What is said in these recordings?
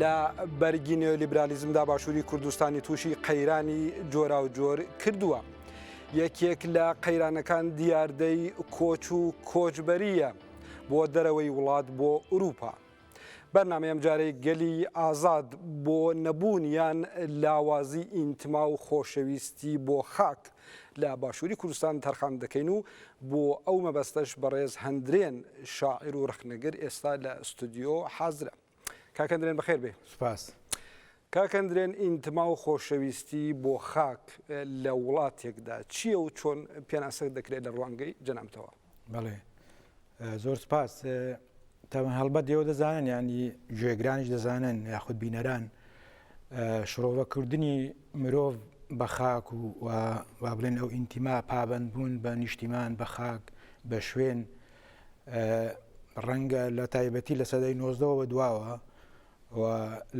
لە بەرگی نێۆلیبرالیزمدا باشووری کوردستانی تووشی قەیرانی جۆراوجۆر کردووە. یەکێک لە قەیرانەکان دیاردەی کۆچ و کۆچبەریە بۆ دەرەوەی وڵات بۆ ئوروپا. بەرنامە ئەمجارەی گەلی ئازاد بۆ نەبوونیان لاوازی ئینتما و خۆشەویستی بۆ خاک لە باشووری کوردستان تەرخان دەکەین و بۆ ئەو مەبەستەش بەڕێز هەندرێن شاعیر و ڕەخنەگر ئێستا لە ئوستودیۆ حازرە. کاک هەندرێن بەخێر بێ. سوپاس. کاک هەندرێن ئینتما و خۆشەویستی بۆ خاک لە وڵاتێکدا چییە و چۆن پێناسە دەکرێت لە ڕوانگەی جەنابتەوە؟ بەڵێ زۆر سپاس تاون هەڵبەت ئێوە دەزانن ینی گوێگرانیش دەزانن یاخود بینەران شڕۆڤەکردنی مرۆڤ بە خاک و وا بڵێن ئەو ئینتیما پابند بوون بە نیشتیمان بە خاک بە شوێن ڕەنگە لە تایبەتی لە سەدەی نۆزدەوە دواوە و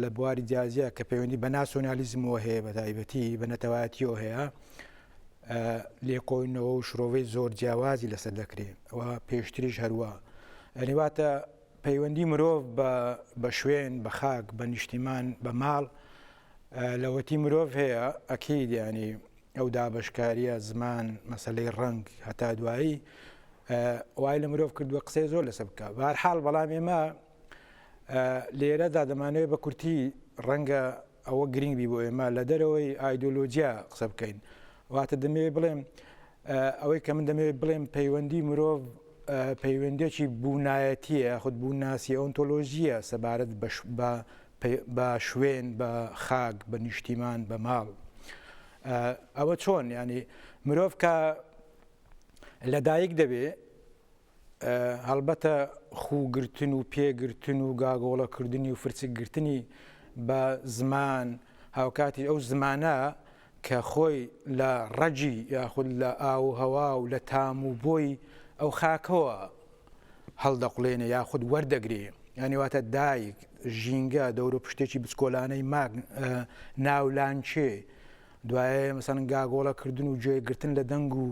لە بواری جیا جیا کە پەیوەندی بە ناسۆنالیزمەوە هەیە بە تایبەتی بە نەتەوایەتیەوە هەیە لێکۆینەوە و شرۆڤەی زۆر جیاوازی لەسەر دەکرێت و پێشتریش هەروە ئەنیواتە پەیوەندی مرۆڤ بە شوێن بە خاک بە نیشتیمان بە ماڵ لەوەتی مرۆڤ هەیە ئەکیید ینی ئەو دابشکاریە زمان مەسلەی ڕنگ هەتا دوایی وای لە مرۆڤ کردووە قسەی زۆر لەسە بکە بارحاڵ بەڵام ئێمە لێرەدا دەمانەوێت بە کورتی ڕەنگە ئەوە گرنگ بی بۆ ئێمە لە دەرەوەی ئایدۆلۆجیا قسە بکەین واتە دەمەوێت بڵێم ئەوەی کە من دەمەوێت بڵێم پەیوەندی مرۆڤ پەیوەندێکی بوونایەتیە خود بوونناسی ئۆنتۆلۆژیە سەبارەت بە شوێن بە خاک بە نیشتیمان بە ماڵ ئەوە چۆن ینی مرۆڤ کە لەدایک دەبێ هەڵبەتە خووگرتن و پێگرتن و گاگۆڵەکردنی و فرچکگرتنی بە زمان هاوکاتی ئەو زمانە کە خۆی لە ڕەجی یاخود لە ئاو و هەوا و لە تام و بۆی ئەو خاکەوە هەڵدەقلێنێ یاخود وەردەگرێ یانیواتە دایک ژینگە دەورە پشتێکی بچکۆلانەی ماگ ناولانچێ دوایێ مەسەن گاگۆڵە کردن و گوێ گرتن لە دەنگ و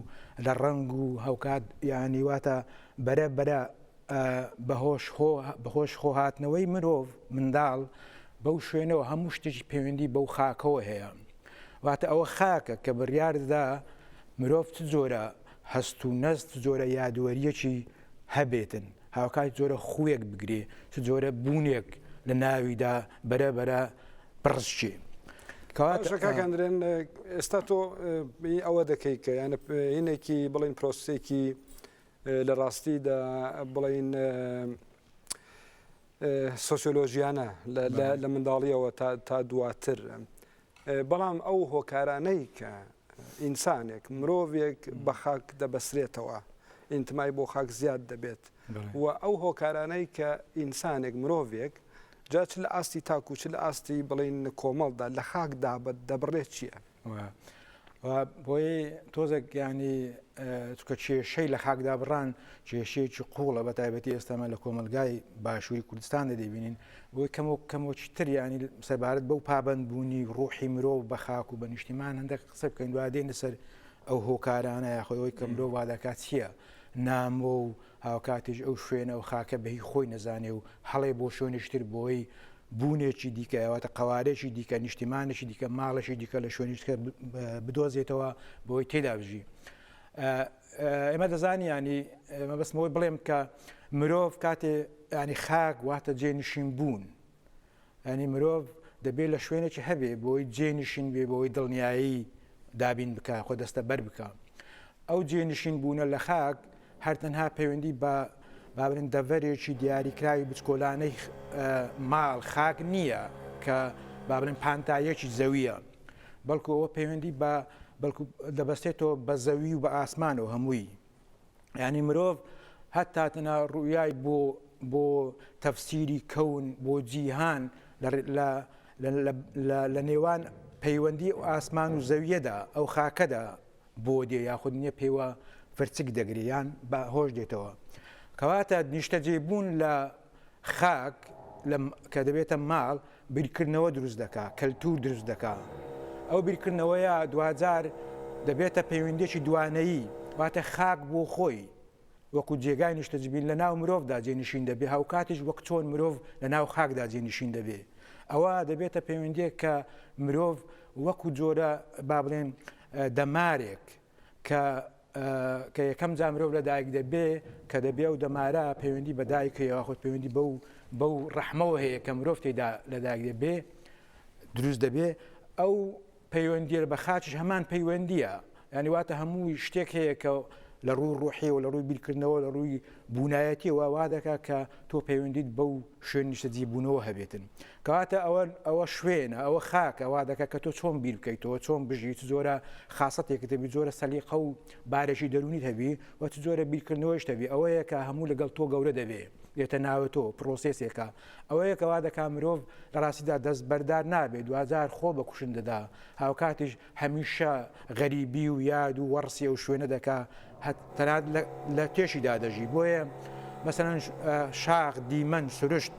لە ڕەنگ و هەوکات یانی واتە بەرە بەرە بە هۆش خۆ بە هۆش خۆ هاتنەوەی مرۆڤ منداڵ بەو شوێنەوە هەموو شتێکی پەیوەندی بەو خاکەوە هەیە واتە ئەوە خاکە کە بڕیاردەدا مرۆڤ چ جۆرە هەست و نەست جۆرە یادوەریەکی هەبێتن هاوکات چ جۆرە خووێک بگرێ چ جۆرە بوونێک لە ناویدا بەرە بەرە بڕشێ کەواکەندرێن ئێستا تۆ ئەوە دەکەیت کە یانە هینێکی بڵین پرۆسێکی لە ڕاستیدا بڵین سۆسیۆلۆژیانە لە منداڵیەوە تا دواتر بەڵام ئەو هۆکارانەی کە ئینسانێک، مرۆڤێک بە خاک دەبەسرێتەوە، ئینتمای بۆ خاک زیاد دەبێت و ئەو هۆکارانەی کە ئینسانێک، مرۆڤێک جا چ لە ئاستی تاک و چ لە ئاستی بڵێین کۆمەڵدا لە خاک دابدەبڕێت چییە؟ بۆیە تۆزێک ینی چکە کێشەی لە خاکدا بڕان کێشەیەکی قوڵە بە تایبەتی ئێستامە لە کۆمەلگای باشووری کوردستان دەبینین بۆی کەم و کەمۆکی تر ینی سەبارەت بەو پابند بوونی ڕوحی مرۆڤ بە خاک و بە نیشتیمان هەندێک قسە بکەین دوادێن لەسەر ئەو هۆکارانە یاخۆی ئەوەی کە مرۆڤ وادەکات چییە نامۆ و هاوکاتیش ئەو شوێنە و خاکە بە هی خۆی نەزانێ و هەڵێ بۆ شوێنێکی تر بۆی بوونێکی دیکە واتا قەوارەیەکی دیکە نیشتیمانێکی دیکە ماڵێکی دیکە لە شوێنی دیکە بدۆزێتەوە بۆی تێدا بژی ئێمە دەزانی ینی مەبستمەوەی بڵێم کە مرۆڤ کاتێ ینی خاک واتە جێ نشین بوون یانی مرۆڤ دەبێت لە شوێنێکی هەبێ بۆی جێنشین بێ بۆی دڵنیایی دابین بکە خۆ دەستە بەر بکە ئەو جێنشین بوونە لە خاک هەرتەنها پەیوەندی بە بابرن دەڤەرێکی دیاریکراوی بچکۆلانەی ماڵ خاک نییە کە بابرن پانتایەکی زەویە بەڵکو ئەوە پەیوەندی بە بەڵکو دەبەستێتەوە بە زەوی و بە ئاسمان و هەمووی یعنی مرۆڤ هەتا تەنا ڕویای بۆ بۆ تەفسیری کەون بۆ جیهان لە نێوان پەیوەندی و ئاسمان و زەویەدا ئەو خاکەدا بۆ دێ یاخود نییە پێوە فرچک دەگریان بە هۆش دێتەوە کەواتە نیشتەجێبوون لە خاک لە کە دەبێتە ماڵ بیرکردنەوە دروست دەکا، کەلتوور دروست دەکا. ئەو بیرکردنەوەیە دواجار دەبێتە پەیوەندییەکی دوانەیی، واتە خاک بۆ خۆی وەکوو جێگای نیشتەجبین لە ناو مرۆڤدا جێنشین دەبێ، هاوکاتیش وەک چۆن مرۆڤ لە ناو خاکدا جێنشین دەبێ. ئەوە دەبێتە پەیوەندییەک کە مرۆڤ وەکوو جۆرە با بڵێن دەمارێک کە کە یەکەم جار مرۆڤ لە دایک دەبێ کە دەبێ و دەمارە پەیوەندی بە دایک هەیە خۆت پەیوەندی بەو بەو ڕەحمەوە هەیە کە مرۆڤ تێدا لە دایک دەبێ دروست دەبێ ئەو پەیوەندی بە خاچش هەمان پەیوەندیە ینی واتە هەموو شتێک هەیە کە لە ڕووی ڕۆحیەوە لە ڕووی بیرکردنەوە لە ڕووی بوونایەتیەوە وا دەکات کە تۆ پەیوەندیت بەو شوێن نیشتەجیبوونەوە هەبێتن. کەواتە ئەوە ئەوە شوێنە، ئەوە خاکە، وا دەکات کە تۆ چۆن بیر بکەیتەوە، چۆن بژی، چ جۆرە خاسەتێکت هەبی، جۆرە سەلیقە و بارێکی دەروونیت هەبی و چ جۆرە بیرکردنەوەیشت هەبی، ئەوەیە کە هەموو لەگەڵ تۆ گەورە دەبێ، دێتە ناوە تۆ، پرۆسێسێکە. ئەوەیە کە وا دەکات مرۆڤ لە ڕاستیدا دەستبەردار نابێ، دواجار خۆ بە کوشندەدا، هاوکاتیش هەمیشە غەریبی و یاد و وەڕسی ئەو شوێنە دەکا تەنانەت لە تێشیدا دەژی بۆیە مەسەن شاخ دیمەن سروشت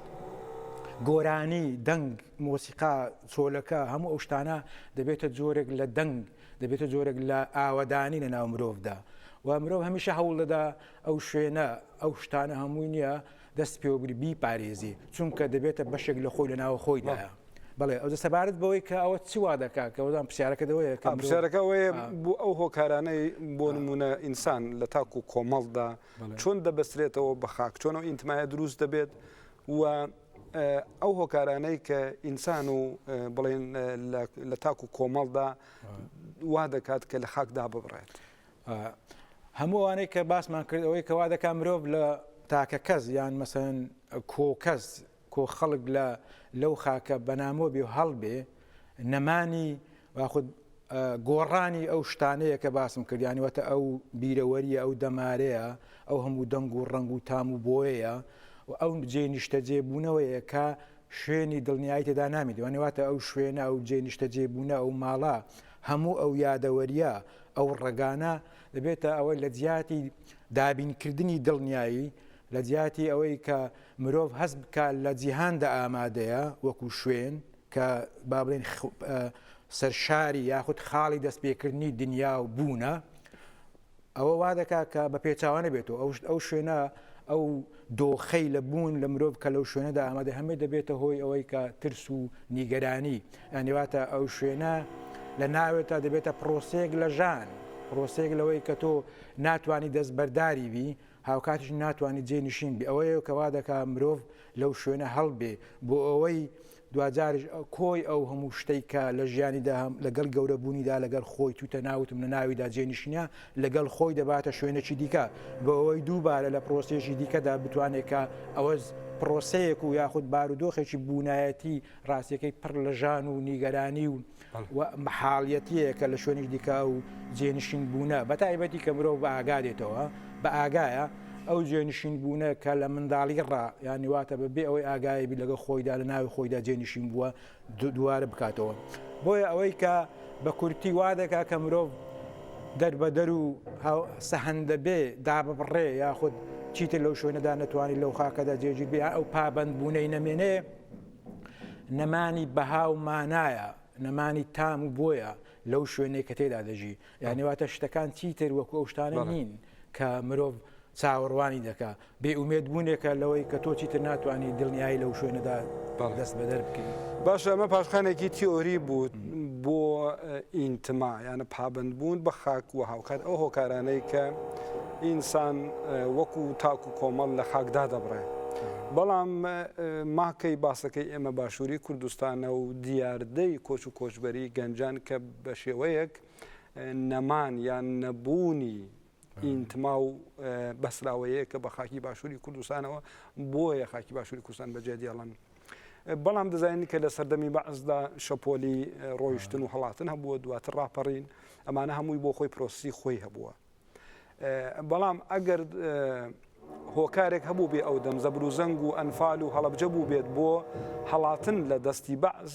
گۆرانی دەنگ مۆسیقا چۆلەکە هەموو ئەو شتانە دەبێتە جۆرێک لە دەنگ دەبێتە جۆرێک لە ئاوەدانی لە ناو مرۆڤدا و مرۆڤ هەمیشە هەوڵ دەدا ئەو شوێنە ئەو شتانە هەمووی نییە دەست پێوەبگری بیپارێزی چونکە دەبێتە بەشێک لە خۆی لە ناوە خۆیدایە. بەڵێ ئەوجە سەبارەت بەوەی کە ئەوە چی وا دەکا کە وەزان پرسیارەکە دەوەیە کە مرۆڤ پرسیارەکە ئەوەیە بۆ ئەو هۆکارانەی بۆ نمونە ئینسان لە تاک و کۆمەڵدا چۆن دەبەسترێتەوە بە خاک چۆن ئەو ئینتمایە دروست دەبێت و ئەو هۆکارانەی کە ئینسان و بڵێن لە تاک و کۆمەڵدا وا دەکات کە لە خاک داببڕێت. و هەموو ئەوانەی کە باسمان کرد ئەوەی کە وا دەکات مرۆڤ لە تاکە کەس یان مەسەن کۆ کەس کۆ خەڵک لە لەو خاکە بەنامۆ بێ و هەڵبێ نەمانی واخود گۆڕانی ئەو شتانەیە کە باسم کردیانوەتە ئەو بیرەوەریە ئەو دەمارەیە ئەو هەموو دەنگ و ڕنگ و تام و بۆیەیە و ئەو جێ نیشتە جێبوونەوەیە کە شوێنی دڵنیایی تێدا نامی دوانێواتە ئەو شوێنە ئەو جێ نیشتە جێبوونە ئەو ماڵە هەموو ئەو یادەوەرییە، ئەو ڕەگانە دەبێتە ئەوەی لە جیاتی دابینکردنی دڵنیایی، لە جیاتی ئەوەی کە مرۆڤ هەست بکات لە جیهاندا ئامادەیە وەکوو شوێن، کە با بڵێین سەرشاری یاخود خاڵی دەستپێکردنی دنیا و بوونە، ئەوە وا دەکات کە بە پێچاوە نەبێتەوە ئەو ئەو شوێنە ئەو دۆخەی لە بوون لە مرۆڤ کە لەو شوێنەدا ئامادە هەمێ دەبێتە هۆی ئەوەی کە ترس و نیگەرانی ئەنیواتە ئەو شوێنە لە ناوێت تا دەبێتە پرۆسەیەک لە ژان پرۆسەیەک لەوەی کە تۆ ناتانی دەست بەرداری بی هاوکاتیش ناتوانانی جێ نشین بی ئەوەیە کەوا دەکا مرۆڤ لەو شوێنە هەڵبێ بۆ ئەوەی دواجاریش کۆی ئەو هەموو شتەی کە لە ژیانیدا هەم لەگەڵ گەورەبوونیدا لەگەڵ خۆی تووتە ناوتم لە ناویدا جێنشینە لەگەڵ خۆی دەباتە شوێنێکی دیکە بەوەی دووبارە لە پرۆسێژی دیکەدا بتوانێت کە ئەوەز پرۆسەیەک و یاخود بارودۆخێکی بوونایەتی ڕاستەکەی پڕ لە ژان و نیگەرانی و و مەحاڵیەتیەکە لە شوێنیش دیکە ئەو جێنشین بوونە بە تایبەتی کە مرۆڤ بە ئاگا دێتەوە بە ئاگایە ئەو جێنشین بوونە کە لە منداڵی ڕا یانی واتە بە بێ ئەوەی ئاگایی بی لەگە خۆیدا لە ناوی خۆیدا جێنشین بووە دووارە بکاتەوە بۆیە ئەوەی کە بە کورتی وا دەکا کە مرۆڤ دەربەدەر و سەهندە بێ دا ببڕێ یاخود چیتر لەو شوێنەدا نەتوانانی لەو خاکەدا جێگیر بێ ئەو پابند بوونەی نەمێنێ نەمانی بەها و مانایە نەمانی تام و بۆیە لەو شوێنێک کە تێدا دەژی یانیواتە شتەکان چیتر وەکو ئەو شتانە نین کە مرۆڤ چاوەڕوانی دەکا بێ ئومێد بوونێکە لەوەی کە تۆ چیتر ناتوانانی دڵنیایی لەو شوێنەدا دەست بەدەر بکەین باشە ئەمە پاشخانێکی تیۆری بوو بۆ ئینتما یانە پابند بوون بە خاک و هاوکات ئەو هۆکارانەی کە ئینسان وەکو تاک و کۆمەڵ لە خاک دادەبڕێ. بەڵام ماکەی باسەکەی ئێمە باشووری کوردستانە و دیاردەی کۆچ و کۆچبەری گەنجان کە بە شێوەیەک نەمان یان نەبوونی ئینتما و بەسراوەیە کە بە خاکی باشووری کوردستانەوە بۆیە خاکی باشووری کوردستان بەجێ دێڵن. بەڵام دەزانین کە لە سەردەمی بەعزدا شەپۆلی ڕۆیشتن و هەڵاتن هەبووە دواتر ڕاپەڕین ئەمانە هەمووی بۆ خۆی پرۆسی خۆی هەبووە. بەڵام ئەگەر هۆکارێک هەبوو بێ ئەو دەم زەبروزەنگ و ئەنفال و هەڵبجە بوو بێت بۆ هەڵاتن لە دەستی بەعز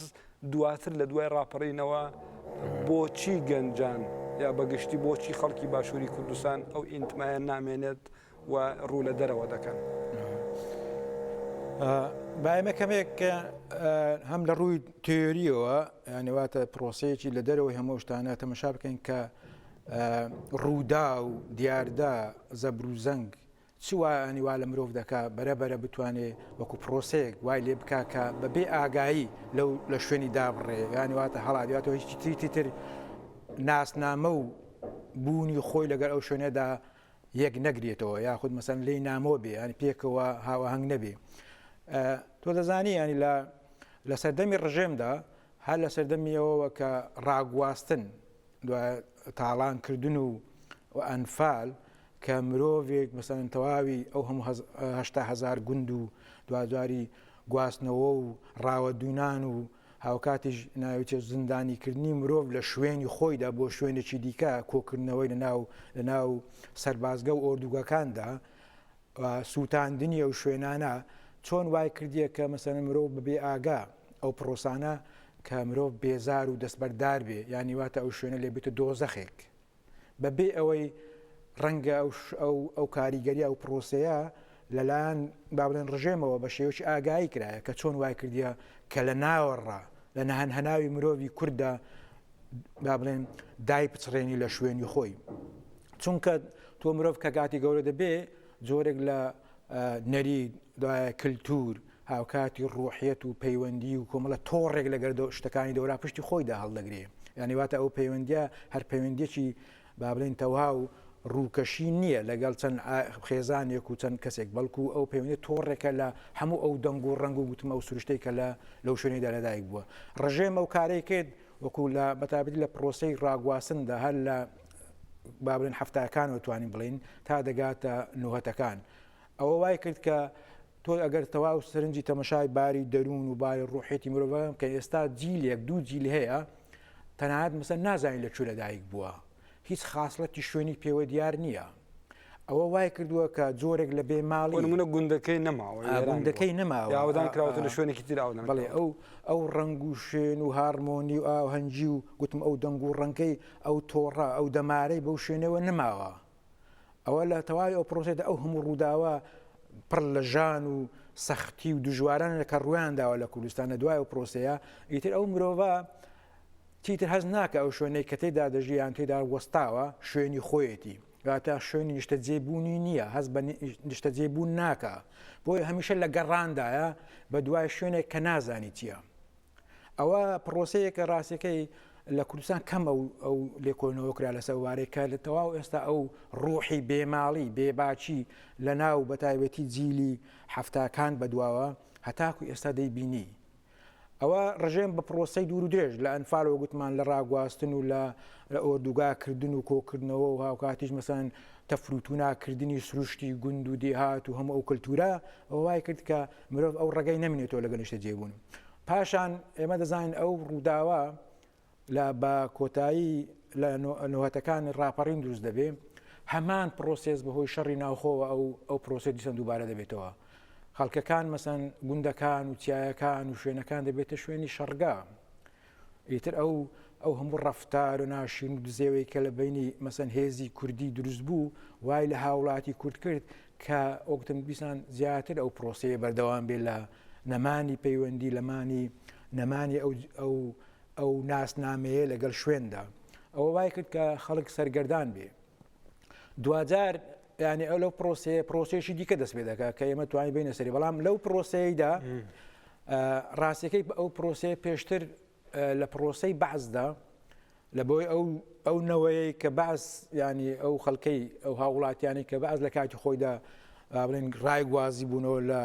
دواتر لە دوای ڕاپەڕینەوە بۆچی گەنجان یا بەگشتی بۆچی خەڵکی باشووری کوردستان ئەو ئینتمایان نامێنێت و ڕوو لە دەرەوە دەکەن. بایمە کەمێک هەم لە ڕووی تێریەوە یانەواتە پرۆسەیەکی لە دەرەوەی هەموو شتانە تەمەشا بکەین کە ڕووداو، دیاردە، زەبروزەنگ چ وایانی وا لە مرۆڤ دەکا بەرە بەرە بتوانێ وەکو پرۆسەیەک وای لێ بکا کە بە بێ ئاگایی لەو لە شوێنی دابڕێ یانی واتە هەڵاتوە هیچی تری تر ناسنامە و بوونی خۆی لەگەر ئەو شوێنەدا یەک نەگرێتەوە یاخود مەسەن لی نامۆ بێ ینی پێکەوە هاوەهنگ نەبێ تۆ دەزانی ینی لە لە سەردەمی ڕژێمدا هەر لە سەردەمی ئەوەوە کە ڕاگواستن، دوای تاڵان کردن و ئەنفال کە مرۆڤێک مەسەلەن تەواوی ئەو هەموو هەشتا هەزار گوند و دوجاری گواستنەوە و ڕاوەدوونان و هاوکاتیش ناوچە زیندانیکردنی مرۆڤ لە شوێنی خۆیدا بۆ شوێنێکی دیکە کۆکردنەوەی لە ناو لە ناو سەربازگە و ئۆردوگەکاندا سووتاندنی ئەو شوێنانە چۆن وای کردیە کە مەسەلەن مرۆڤ بە بێ ئاگا ئەو پڕۆسانە کە مرۆڤ بێزار و دەستبەردار بێ یانی واتە ئەو شوێنە لێ بێتە دۆزەخێک بە بێ ئەوەی ڕەنگە ئەو کاریگەری ئەو پڕۆسەیە لەلایەن بابلێن ڕژێمەوە بە شێوەی ئاگایی کرایە کە چۆن وای کردیە کە لە ناوەڕ لە نەهەن هەناوی مرۆڤی کووردا با بڵێن دای پچڕێنی لە شوێنی خۆی چونکە تۆ مرۆڤ کە گاتی گەورە دەبێ جۆرێک لە نەری دوایە کللتور هاوکاتی ڕۆحیەت و پەیوەندی و کۆمەڵە تۆڕێک لەگەر شتەکانی دەورا پشتی خۆیدا هەڵدەگرێ یانیواتە ئەو پەیوەندە هەر پەیوەندێکی با بڵێین تەوها و ڕووکەشی نییە لەگەڵ چەند خێزانێک و چەند کەسێک، بەڵکو ئەو پەیوەندییە تۆڕێکە لە هەموو ئەو دەنگ و ڕەنگ و گوتمە و سروشتەی کە لەو شوێنەیدا لەدایک بووە. ڕژێم ئەو کارەی کرد وەکو لە بە تایبەتی لە پڕۆسەی ڕاگواستندا هەر لە با بڵێین حەفتاکانەوە توانین بڵێین تا دەگاتە نۆهەتەکان ئەوە وای کرد کە تۆ ئەگەر تەواو سرنجی تەمەشای باری دەروون و باری ڕوحێتی مرۆڤەکەم کە ئێستا جیلێک دوو جیل هەیە تەنانەت مەسەن نازانین لە کوێ لەدایک بووە هیچ خاصڵەتی شوێنی پێوە دیار نییە ئەوە وای کردووە کە جۆرێک لە بێ ماڵی منە گوندەکەی نەماوە گوندەکەی نەماوەدان کراوە لە شوێنێکی تراوە بڵێ ئەو ئەو ڕنگ و شوێن و هارمۆنی و ئاوهەنگی و گوتم ئەو دەنگ و ڕەنگەی ئەو تۆڕە ئەو دەمارەی بەو شوێنەوە نەماوە ئەوە لە تەواوی ئەو پرۆسەدا ئەو هەموو ڕووداوە پڕ لە ژان و سەختی و دژوارانە کە ڕویان داوە لە کوردستان لە دوای و پرۆسەیە ئیتر ئەو مرۆڤە تیتر هەز ناکە ئەو شوێنەی کە تێدا دەژیان تێدا وەستاوە شوێنی خۆیەتی تا شوێنی نیشتە جێبوونی نییە هەز بە نیشتە جێبوون ناکە بۆی هەمیشە لە گەڕاندایە بە دوای شوێنێک کە نازانی چییە. ئەوە پڕۆسەیە کە ڕاستەکەی لە کوردستان کەمە و ئەو لێکۆنەوە کرا لە سەوارەی کە لە تەواو ئێستا ئەو ڕۆحی بێماڵی بێباچی لە ناو بە تایبەتی جیلی هەفتاکان بەدواوە هەتاکو ئێستا دەیبینی ئەوە ڕژێم بە پرۆسی دوور و درێژ لە ئەنفالەوە گوتمان لە ڕاگواستن و لە ئۆردوگاکردن و کۆکردنەوە و هاوکاتیش مەسەن تەفروتوناکردنی سروشتی گوند و دێهات و هەموو ئەو کللتورە ئەووای کرد کە مرۆڤ ئەو ڕێگەی نەمینێتەوە لەگەڵ نیشتەجێبوون پاشان ئێمە دەزانین ئەو ڕووداوە لە بە کۆتایی لە نوهتەکانی ڕاپەڕین دروست دەبێ هەمان پرۆسس بەهۆی شەڕی ناوخۆوە ئەو ئەو پرۆسی دیسان دووبارە دەبێتەوە خەڵکەکان مەسەن گوندەکان و چیایەکان و شوێنەکان دەبێتە شوێنی شەڕگا ئیتر ئەو ئەو هەموو ڕەفتار و ناشرین و دزێوەی کە لە بینی مەسەن هێزی کوردی دروست بوو وای لە هاوڵاتی کورد کرد کە ئۆکتم بیسان زیاتر ئەو پرۆسەیە بەردەوام بێ لە نەمانی پەیوەندی لەمانی نەمانی ئەو ئەو ئەو ناسنامەیە لەگەڵ شوێندا ئەوە وای کرد کە خەڵک سەرگەردان بێ دوجار ینی ئەو لەو پرۆسەیە پرۆسێکی دیکە دەست پێ دەکات کە ئێمە توانین بینە سەری بەڵام لەو پرۆسەیەدا ڕاستیەکەی ئەو پرۆسەیە پێشتر لە پرۆسەی بەعسدا لە بۆی ئەو ئەو نەوەیە کە باس ینی ئەو خەڵکەی ئەو هاوڵاتیانی کە باز لە کاتی خۆیدا بڵێن ڕای گوازی بوونەوە لە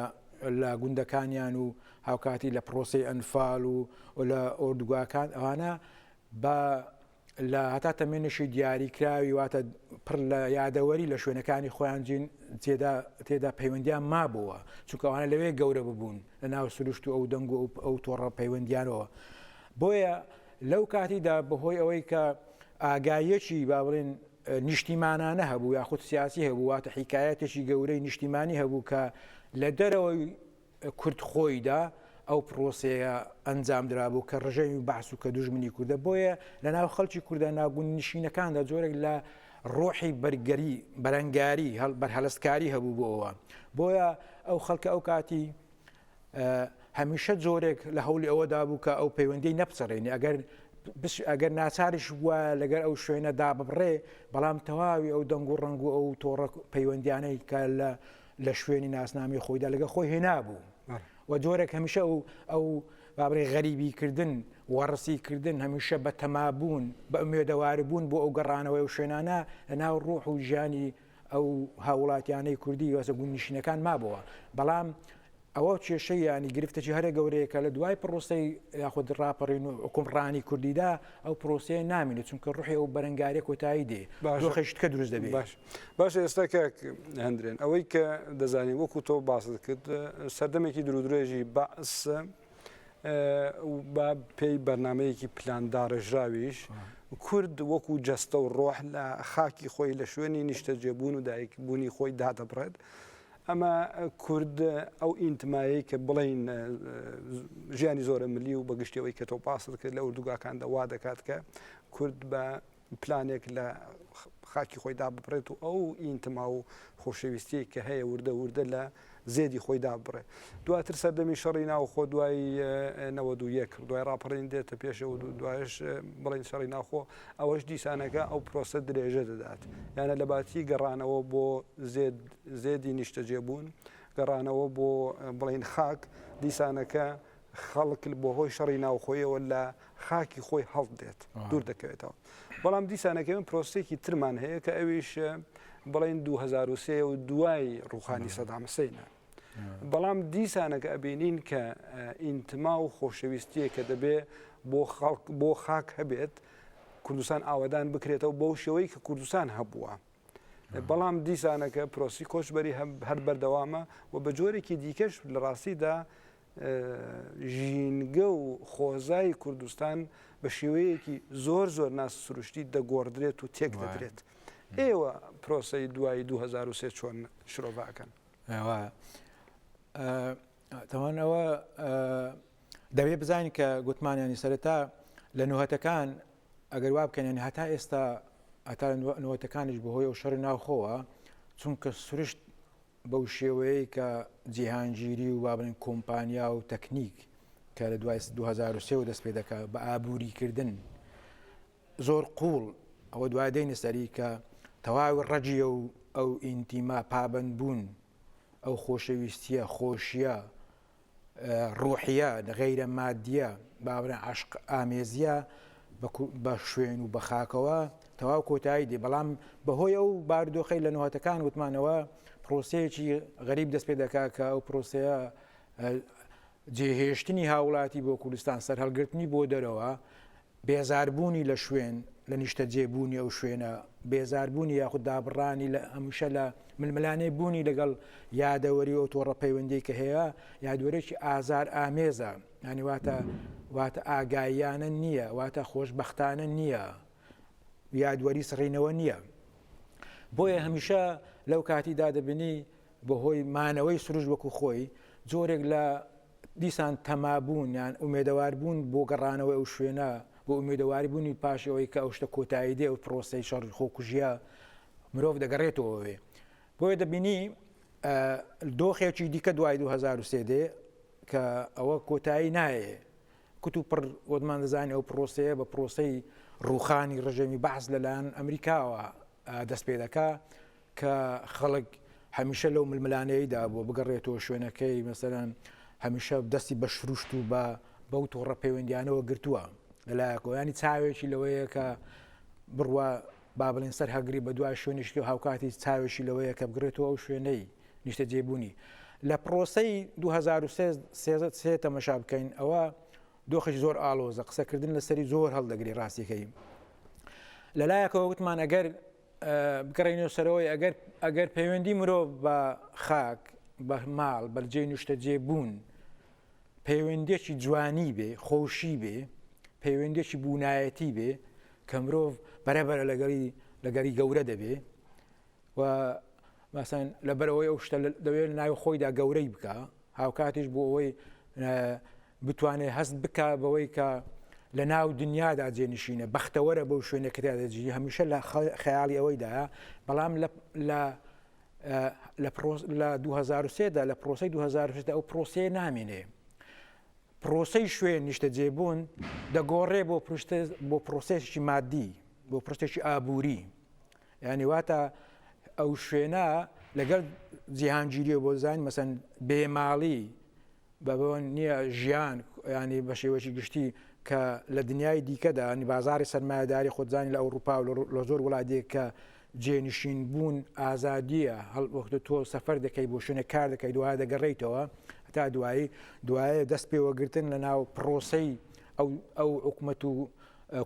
لە گوندەکانیان و هاوکاتی لە پرۆسی ئەنفال و لە ئۆردوگاکان ئەوانە بە لە هەتا تەمێنێکی دیاری کراوی واتە پڕ لە یادەوەری لە شوێنەکانی خۆیان جین تێدا تێدا پەیوەندیان مابووە چونکەوانە لەوێ گەورە ببوون لە ناو سروشت و ئەو دەنگ و ئەو تۆڕە پەیوەندیانەوە بۆیە لەو کاتیدا بەهۆی ئەوەی کە ئاگایەکی با بڵێن نیشتیمانانە هەبوو یاخود سیاسی هەبوو واتە حیکایەتێکی گەورەی نیشتیمانی هەبوو کە لە دەرەوەی کورد خۆیدا ئەو پڕۆسەیە ئەنجام درابوو کە ڕژەوی بەعس و کە دوژمنی کوردە بۆیە لە ناو خەڵکی کوردە ناگون نشینەکاندا جۆرێک لە ڕۆحی بەرگەری بەرەنگاری هەڵ بەرهەلستکاری هەبوو بۆ ئەوە بۆیە ئەو خەڵکە ئەو کاتی هەمیشە جۆرێک لە هەولی ئەوەدا بوو کە ئەو پەیوەندی نەپچڕێنی ئەگەر ئەگەر ناچارش بووە لەگەر ئەو شوێنەدا ببڕێ بەڵام تەواوی ئەو دەنگ و ڕنگ و ئەو تۆڕە پەیوەندیانەی کە لە لە شوێنی ناسنامی خۆیدا لەگە خۆی هێنابوو و جۆرێک هەمیشە ئەو ئەو بابرێ غەریبی کردن وەڕسی کردن هەمیشە بە تەمابوون بە ئومێدەوار بوون بۆ ئەو گەڕانەوەی و شوێنانە لە ناو ڕوح و ژیانی ئەو هاوڵاتیانەی کوردی وەسە گوندنیشینەکان مابەوە بەڵام ئەوە کێشەی یانی گرفتەکی هەرە گەورەیە کە لە دوای پرۆسەی یاخود ڕاپەڕین و حکومڕانی کوردیدا ئەو پرۆسەیە نامێنێت چونکە ڕوحی ئەو بەرەنگارە کۆتایی دێ دۆخەشتکە دروست دەبێت باش باش ئێستا کە هەندرێن ئەوەی کە دەزانین وەکو تۆ باست کرد سەردەمێکی درودرێژی بەس بە پێی بەرنمەیەکی پلانداڕێژراویش کورد وەکو جەستە و ڕۆح لە خاکی خۆی لە شوێنی نیشتەجێبوون و دایکبوونی خۆی دادەبڕێت. ئەمە کورد ئەو ئینتمایەی کە بڵێین ژیانی زۆرە ملی و بەگشتی ئەوەی کە تۆ پاسل کرد لە ئوردوگاکاندا وا دەکات کە کورد بە پلانێک لە خاکی خۆیدا ببڕێت و ئەو ئینتما و خۆشەویستیەک کە هەیە وردە وردە لە زێدی خۆیدا بڕێ دواتر سەردەمی شەڕی ناوخۆ دوای نەوە دوو یەک دوای ڕاپەڕین دێتە پێشە و دوایش بڵین شەڕی ناوخۆ ئەوەش دیسانەکە ئەو پرۆسە درێژە دەدات یانە لە باتی گەڕانەوە بۆ زێد زێدی نیشتەجێبوون، گەڕانەوە بۆ بڵێین خاک، دیسانەکە خەڵک بۆ هۆی شەڕی ناوخۆیەوە لە خاکی خۆی هەڵت دێت دوور دەکەوێتەوە بەڵام دیسانەکەم پرۆسێکی ترمان هەیە کە ئەویش بڵین 2023 و دوای ڕوخانی سەدامەسەینە بەڵام دیسانەکە ئەبینین کە ئینتما و خۆشەویستیە کە دەبێ بۆ خەڵک بۆ خاک هەبێت کوردستان ئاوادان بکرێتەوە بەو شێوەی کە کوردستان هەبووە بەڵام دیسانەکە پرۆسی کۆچبەری هەر بەردەوامە و بە جۆرێکی دیکەش لە ڕاستیدا ژینگە و خۆزای کوردستان بە شێوەیەکی زۆر زۆر ناس سروشتی دەگۆڕدرێت و تێک دەدرێت ئێوە پرۆسی دوای 2023 چۆن شرۆڤاکەن تاوان ئەوە دەبێت بزانین کە گوتمانیانی سەرەتا لە نوهتەکان ئەگەر وا بکەن ینی هەتا ئێستا ئەتا نوەتەکانیش بەهۆی ئەو شەڕی ناوخۆوە چونکە سروشت بەو شێوەیە کە جیهانگیری و وابن کۆمپانیا و تەکنیک کە لە دوای 2023 و دەست پێ دەکات بە ئابووریکردن زۆر قوڵ ئەوە دوای دەینە سەری کە تەواوی ڕەجیە و ئەو ئینتیما پابند بوون ئەو خۆشەویستیە خۆشیە ڕوحیە غەیرە مادیە بابە عەشق ئامێزیە بە شوێن و بە خاکەوە تەواو کۆتایی دێ بەڵام بەهۆی ئەو باردۆخەی لە نوهاتەکان وتمانەوە پرۆسەیەکی غەریب دەست پێ دەکا کە ئەو پرۆسەیە جێهێشتنی هاوڵاتی بۆ کوردستان سەرهەڵگرتنی بۆ دەرەوە بێزاربوونی لە شوێن، لە نیشتەجێ بوونی ئەو شوێنە، بێزاربوونی یاخود دابڕانی لە هەمیشە لە ململانێ بوونی لەگەڵ یادەوەری و ئەو تۆڕە پەیوەندیەی کە هەیە یادوەرێکی ئازار ئامێزە یانی واتە واتە ئاگاییانە نییە واتە خۆشبەختانە نییە یادوەری سڕینەوە نییە بۆیە هەمیشە لەو کاتیدا دەبینی بەهۆی مانەوەی سروش وەکو خۆی جۆرێک لە دیسان تەمابوون یان ئومێدەواربوون بۆ گەڕانەوەی ئەو شوێنە و ئومێدەواربوونی پاش ئەوەی کە ئەو شتە کۆتایی دێ و پرۆسەی شەڕی خۆکوژیە مرۆڤ دەگەڕێتەوە ئەوێ بۆیە دەبینی دۆخێکی دیکە دوای 2023 دێ کە ئەوە کۆتایی نایێ کت و پڕ وەدمان دەزانانی ئەو پرۆسەیە بە پرۆسەی ڕوخانی ڕژێمی بەعس لەلایەن ئەمریکاوە دەست پێ دەکا کە خەڵک هەمیشە لەو ململانێیدا بووە بگەڕێتەوە شوێنەکەی مەسەرەن هەمیشە دەستی بە شروشت و بە بەو تۆڕە پەیوەندیانەوە گرتووە لەلایەکەوە ینی چاوێکی لەوەیە کە بڕوا با بڵین سەر هەگری بە دوای شوێنیشتی و هاوکاتی چاوێکی لەوەیە کە بگرێتەوە ئەو شوێنەی نیشتە جێبوونی لە پرۆسی 2013 تەمەشا بکەین ئەوە دۆخش زۆر ئالۆزە قسەکردن لەسەری زۆر هەڵدەگری ڕاستیەکەی لەلایەکەوە وتمان ئەگەر بگەڕێینەوە سەرەوەی ئەگەر ئەگەر پەیوەندی مرۆڤ بە خاک بە ماڵ بەرجەی نوشتەجێ بوون پەیوەندێکی جوانی بێ خۆشی بێ پەیوەندێکی بوونایەتی بێ کە مرۆڤ بەرەبەرە لەگەڵی لەگەری گەورە دەبێ و مەسەن لەبەرئەوەی ئەو شتە دەوێت لە ناوی خۆیدا گەورەی بکا هاوکاتیش بۆ ئەوەی بتوانێت هەست بکا بەوەی کە لە ناو دنیادا جێنشینە بەختەوەرە بەو شوێنە کرادەجی هەمیشە لە خەیاڵی ئەوەیدا بەڵام لە لە 2023دا لە پرۆسی 2020 ئەو پرۆسیە نامێنێ پرۆسی شوێن نیشتە جێبوون دەگۆڕێ بۆ پرشتە بۆ پرۆسێکی مادی بۆ پرشتێکی ئابووری یانی واتا ئەو شوێنە لەگەڵ جیهانگیریەوە بۆ زانین مەسەن بێماڵی بەبەوە نییە ژیان ینی بە شێوەی گشتی کە لە دنیای دیکەدا نی بازاری سەرمایهداری خۆزانانی لە ئەوروپا و لە زۆر وڵاتێک کە جێنشین بوون ئازادیە هەڵوەختە تۆ سەفەر دەکەی بۆ شوێنە کار دەکەی دوای دەگەڕیتەوە تا دوایی دوایە دەست پێوەگرتن لە ناو پرۆسی ئەو ئەو حکومەت و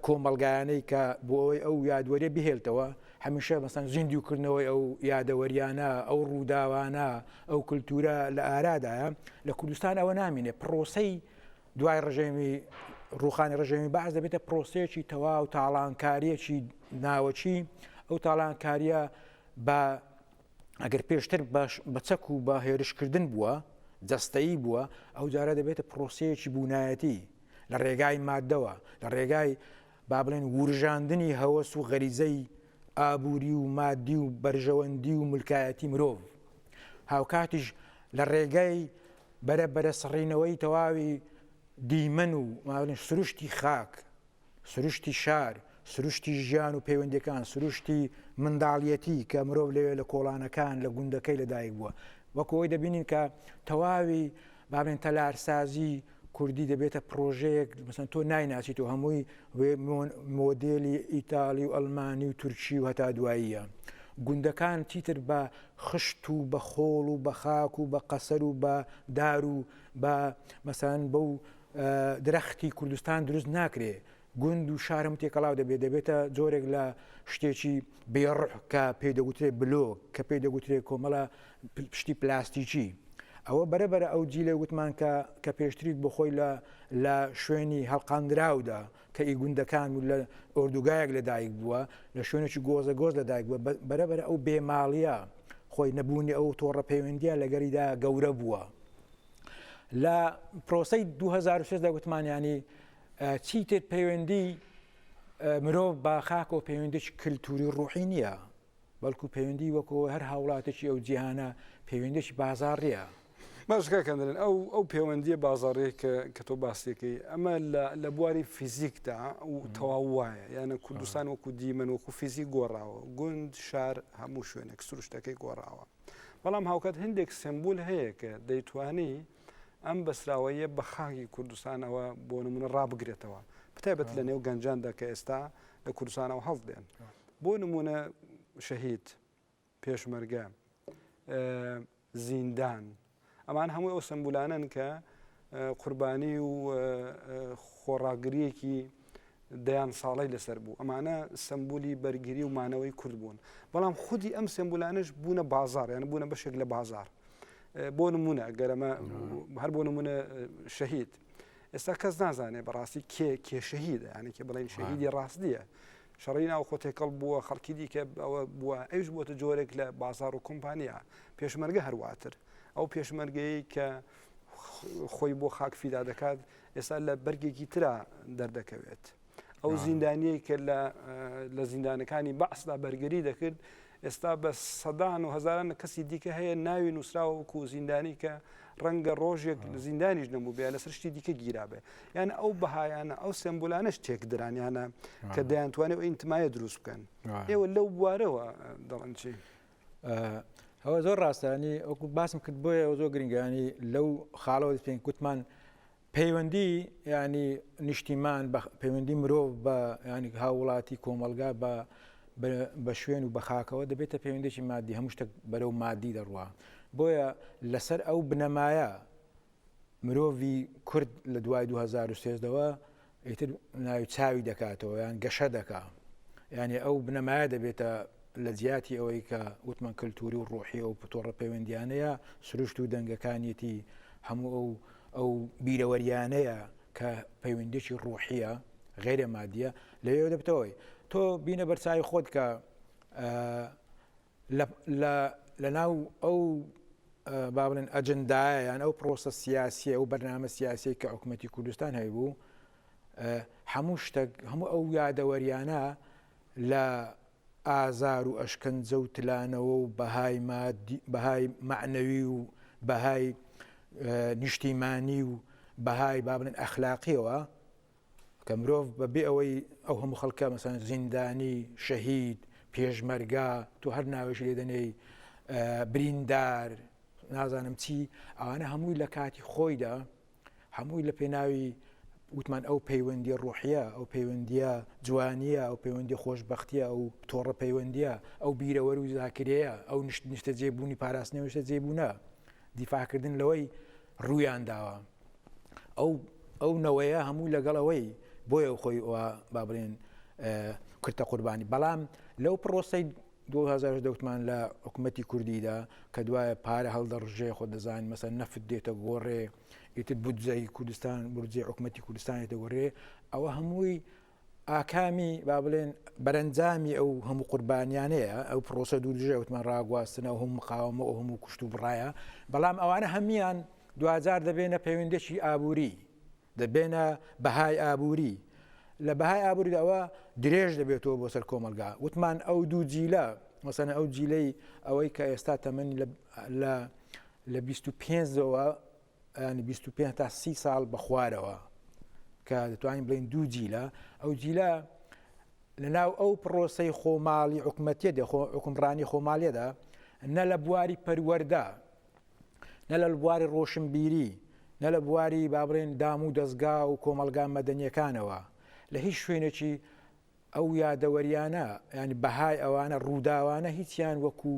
کۆمەڵگایانەی کە بۆ ئەوەی ئەو یادوەریە بهێلتەوە هەمیشە مەسەن زیندوو کردنەوەی ئەو یادەوەریانە ئەو ڕووداوانە ئەو کللتورە لە ئارادایە لە کوردستان ئەوە نامینێ پرۆسەی دوای ڕژێمی ڕوخانی ڕژێمی باز دەبێتە پرۆسەیەکی تەواو تاڵانکاریەکی ناوەچی ئەو تاڵانکاریە بە ئەگەر پێشتر باش بە چەک و بە هێرشکردن بووە جەستەیی بووە ئەو جارە دەبێتە پرۆسەیەکی بوونایەتی لە ڕێگای مادەوە لە ڕێگای با بڵێن ورژاندنی هەوەس و غەریزەی ئابووری و مادی و بەرژەوەندی و ملکایەتی مرۆڤ هاوکاتیش لە ڕێگای بەرە بەرە سڕینەوەی تەواوی دیمەن و ماڵین سروشتی خاک سروشتی شار، سروشتی ژیان و پەیوەندییەکان، سروشتی منداڵیەتی کە مرۆڤ لەوێ لە کۆڵانەکان، لە گوندەکەی لەدایک بووە. وەکو ئەوەی دەبینین کە تەواوی با بڵێین تەلارسازی کوردی دەبێتە پرۆژەیەک مثلا تۆ نایناسیت و هەمووی مۆدێلی ئیتاڵی و ئەلمانی و تورکی و هەتا دواییە گوندەکان چیتر بە خشت و بە خۆڵ و بە خاک و بە قەسەر و بە دار و بە مەسان بەو درەختی کوردستان دروست ناکرێ گوند و شار هەموو تێکەڵاو دەبێت دەبێتە جۆرێک لە شتێکی بێڕح کە پێی دەگوترێ بلۆ کە پێی دەگوترێ کۆمەڵە پشتی پلاستیکی ئەوە بەرەبەرە ئەو جیلە وتمان کە کە پێشتریت بۆ خۆی لە لە شوێنی هەڵقاندراودا کە ئی گوندەکان و لە ئۆردوگایەک لەدایک بووە لە شوێنێکی گۆزە گۆز لەدایک بووە بەرەبەر ئەو بێماڵە خۆی نەبوونی ئەو تۆڕە پەیوەندیە لەگەریدا گەورە بووە. لە پرۆسەی دوو هەزار و شەش دا گوتمان یانی چیتر پەیوەندی مرۆڤ با خاک و پەیوەندیش کللتوری ڕوحی نییە بەڵکو پەیوەندی وەکۆ هەر هاوڵاتێکی ئەو جیهانە پەیوەندیش بازاڕیە باشکەکەندرن ئەو ئەو پەیوەندیە بازاڕێ کە تۆ باسیەکەی ئەمە لە بواری فیزیکدا و تەواو وایە یانە کوردستان وەکو دیمەن وەکو فیزی گۆڕاوە گوند شار هەموو شوێنێک سروشتەکەی گۆڕاوە. بەڵام هاوکات هەندێک سمبول هەیە کە دەیتوانی ئەم بەسراوەیە بە خاکی کوردستانەوە بۆ نمونە ڕابگرێتەوە بتابەت لە نێو گەنجاندا کە ئێستا لە کوردستانەوە هەڵ دێن بۆ نمونە شەهید پێشمەرگە زیندان ئەمان هەمووی ئەو سەمبولانەن کە قوربانی و خۆڕاگریەکی دەیان ساڵی لەسەر بوو ئەمانە سمبولی بەرگری و مانەوەی کورد بوون بەڵام خودی ئەم سمبولانش بوونە بازار یان بوونە بەشێک لە بازار بۆ نمونە گەرەمە هەر بۆ نمونە شەهید ئێستا کەس نازانێ بەڕاستی کێ کێشەهیدە یانێکی بڵێن شەهیدی ڕاستیە شەڕی ناوخۆ تێکەڵ بووە، خەڵکی دیکە ئەوە بووە، ئەویش بووەتە جۆرێک لە بازاڕ و کۆمپانیا. پێشمەرگە هەر واتر. ئەو پێشمەرگەیەی کە خۆی بۆ خاک فیدا دەکات، ئێستا لە بەرگێکی ترا دەردەکەوێت. ئەو زیندانیەی کە لە زیندانەکانی بەعسدا بەرگری دەکرد، ئێستا بە سەدان و هەزاران کەسی دیکە هەیە ناوی نووسراوە وەکو زیندانی کە ڕەنگە ڕۆژێک لە زیندانیش نەبووبێ لەسەر شتی دیکە گیرابێ یانە ئەو بەهایانە ئەو سمبولانش تێکدرانیانە کە دەیانتوانێت ئەو ئینتمایە دروست بکەن ئێوە لەو بوارەوە دەڵنچی. ئەوە زۆر ڕاستانی ئەوکو باسم کرد بۆیە ئەو زۆر گرنگانی لەو خاڵەوە پێنگ گوتمان پەیوەندی یانی نیشتیمان بە پەیوەندی مرۆڤ بە ینی هاوڵاتی کۆمەلگا بە بە شوێن و بەخاکەوە دەبێتە پەیوەندێکی مادی هەموو شتێک بەرەو مادی دەڕوە بۆیە لەسەر ئەو بنەمایە مرۆڤی کورد لە دوای 2013ەوە ئیتر ناوی چاوی دەکاتەوە یان گەشە دەکا یانێ ئەو بنەمایە دەبێتە لە جیاتی ئەوەی کە وتمان کللتوری و ڕۆحی و پتۆڕە پەیوەندیانەیە سروشت و دەنگەکانیەتی هەموو ئەو ئەو بیرەوەریانەیە کە پەیوەندێکی ڕۆحیە غێرە مادیە لەوێ دەبتەوەی تۆ بینە بەرچوی خۆت کە لە لە ناو ئەو با بڵێن ئەجندایە یان ئەو پرۆسە سیاسیە ئەو بەرنامە سیاسەی کە حکوومەتتی کوردستان هەیبوو هەموو شتێک هەموو ئەو یادەوەریانە لە ئازار و ئەشکەنجە و تلانەوە و بەهای بەهای معنەوی و بەهای نیشتیمانی و بەهای بابلن ئەخلاقیەوە کە مرۆڤ بە بێ ئەوەی ئەو هەموو خەڵکە مەسەن زیندانی شەهید پێشمەرگا تۆ هەر ناوێش لێ دەنێی بریندار نازانم چی ئەوانە هەمووی لە کاتی خۆیدا هەمووی لە پێناوی وتمان ئەو پەیوەندی ڕۆحە ئەو پەیوەندیە جوانیە ئەو پەیوەندی خۆشببختیە ئەو تۆڕە پەیوەندیە ئەو بیرەوەر و زاکرەیە ئەو نیشت نیشتە جێبوونی پاراستنی نیشتە جێبوونە دیفاکردن لەوەی ڕوویان داوە ئەو ئەو نەوەیە هەموو لەگەڵ ئەوەی بۆیە خۆی با بڵێن کورتە قوربانی بەڵام لەو پرۆسی 2010 دەوتمان لە حکوومەتتی کوردیدا کە دوایە پارە هەڵدەڕژێ خۆ دەزانین مەسە نەفت دێتە گۆڕێ ئیتر بودجەی کوردستان برجێ حکوومەتتی کوردستانی دەگۆڕێ ئەوە هەمووی ئاکامی با بڵێن بەرەنجامی ئەو هەموو قوربانیانەیە ئەو پرۆسە دوو دژە وتمان ڕاگواستنە و هەموو مقاومە و هەموو کوشت و بڕایە بەڵام ئەوانە هەموان دوجار دەبێنە پەیوەندێکی ئابووری دەبێنە بەهای ئابووری لە بەهای ئابووریداوە درێژ دەبێتەوە بۆ سەر کۆمەلگا وتمان ئەو دوو جیلە مەسەن ئەو جیلەی ئەوەی کە ئێستا تەمەنی لە لە 25ەوە یانی بیست و پێنج تا سی ساڵ بە خوارەوە کە دەتوانین بڵین دوو جیلە ئەو جیلە لە ناو ئەو پرۆسی خۆماڵی حکوومەتە دەخۆ حکومڕانی خۆماڵێدا نە لە بواری پەروەەردە نە لە بواری ڕۆشنبیری نە لە بواری بابرێن دام و دەستگا و کۆمەلگا مەدەنیەکانەوە لە هیچ شوێنێکی ئەو یادەوەریانە یانی بەهای ئەوانە ڕووداوانە هیچیان وەکو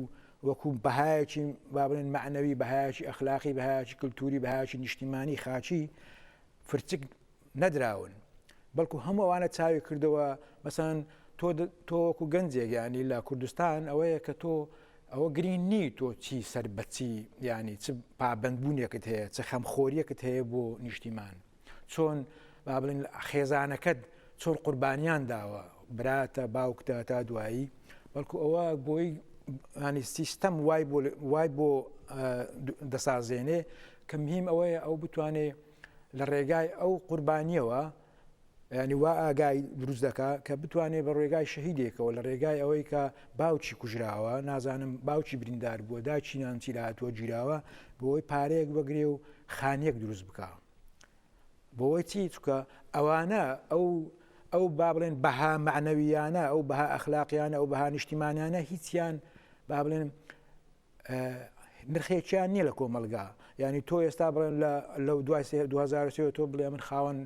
وەکو بەهایەکی با بڵێن معنەوی بەهایەکی ئەخلاقی بەهایەکی کللتوری بەهایکی نیشتیمانی خاچی فرچک نەدراون بەڵکو هەموو ئەوانە چاوی کردەوە مەسەن تۆ تۆ وەکو گەنجێک ینی لە کوردستان ئەوەیە کە تۆ ئەوە گرین نی تۆ چی سەر بەچی ینی چ پابندبوونێکت هەیە چ خەمخۆریەکت هەیە بۆ نیشتیمان چۆن با بڵێن خێزانەکەت چۆن قوربانیان داوە براتە باوکتە تا دوایی بەڵکو ئەوە بۆی ینی سیستەم وای وای بۆ دەسازێنێ کە مهیم ئەوەیە ئەو بتوانێ لە ڕێگای ئەو قوربانیەوە ینی وا ئاگای دروست دەکا کە بتوانێت بە ڕێگای شەهیدێکەوە لە ڕێگای ئەوەی کە باوکی کوژراوە نازانم باوکی بریندار بووە داچینان چیراتوە گیراوە بۆی پارەیەک بەگرێ و خانیەک دروست بکە. بۆوەی چی چکە ئەوانە ئەو ئەو با بڵێن بەها معنەویانە ئەو بەها ئەخلاقیانە ئەو بەها نیشتیمانانە هیچیان با بڵێن نرخێکیان نییە لە کۆمەلگا ینی تۆ ئێستا بڵێن لە دوای 2023 تۆ بڵێ من خاوەن